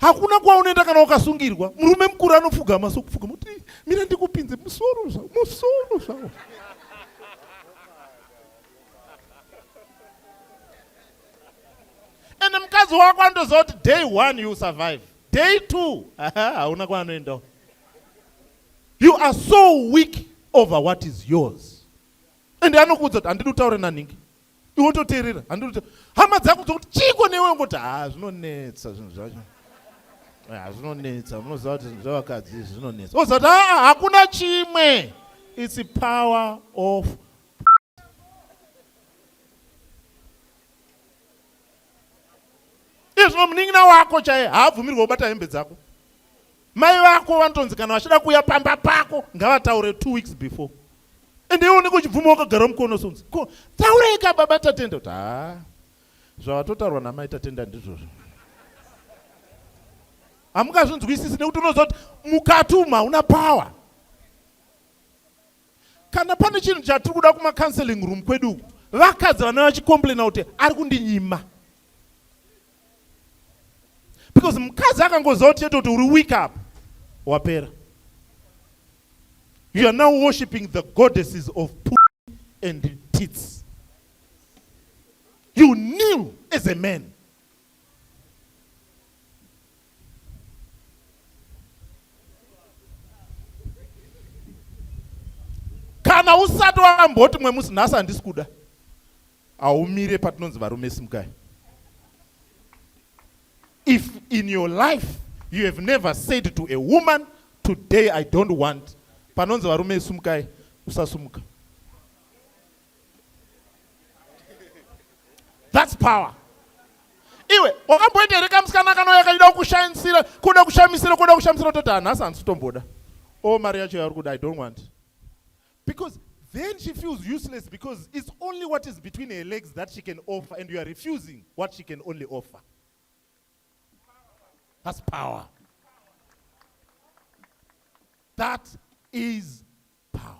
hakuna kwaunoenda kana ukasungirwa murume mukuru anopfugama sokupfugama kuti mira ndikupinze musoro zvavo musoro zvavo ende mukadzi wako anotoziva kuti day one you survive day two hauna kwaanoendawo you are so weak over what is yours ende anokuudza kuti handidi kutaure nanhingi iwe toteerera handiri hama dzako dzokuti chiiko newe ngoti ha zvinonetsa zvinhu zvacho ha zvinonetsa munoziva kuti zvinhu zvavakadzi izvi zvinonetsa oziva kuti aa hakuna chimwe its power of izvo munin'ina wako chaye haabvumirwa kubata hembe dzako mai vako vanotonzi kana vachida kuuya pamba pako ngavataure two weeks before and iwe unenge uchibvuma wakagara mukono sonzi ko taurei ka baba tatenda kuti haa zvavatotaurwa namai tatenda ndizvozvo hamungazvinzwisisi nekuti unoziva kuti mukati umu hauna power Kana pane chinhu chatiri kuda kuma counseling room kwedu uku, vakadzi vana vachicomplaina kuti ari kundinyima. Because mukadzi akangoziva kuti chete kuti uri weak up, wapera. You are now worshiping the goddesses of poo and tits. You kneel as a man. kana usati wamboti mwe musi nhasi handisi kuda haumire patinonzi varume simukai if in your life you have never said to a woman today i don't want panonzi varume simukai usasumuka That's power. Iwe wakamboita here kamusikana kanouya kachida kushamisira kuda kushamisira kuda kushamisira toti hanhasi handisi kutomboda o oh, mari yacho yauri kuda i don't want because then she feels useless because it's only what is between her legs that she can offer and you are refusing what she can only offer that's power that is power.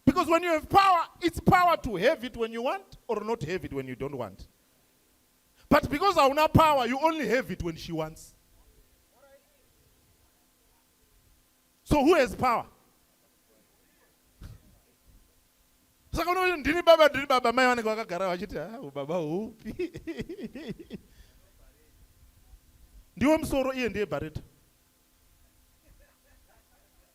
Because when you have power, it's power to have it when you want or not have it when you don't want. But because hauna power, you only have it when she wants. So who has power? saka unoti ndini baba ndini baba mai vanenge vakagara vachiti ha ah, baba hupi ndiwo musoro iye ndiye bareta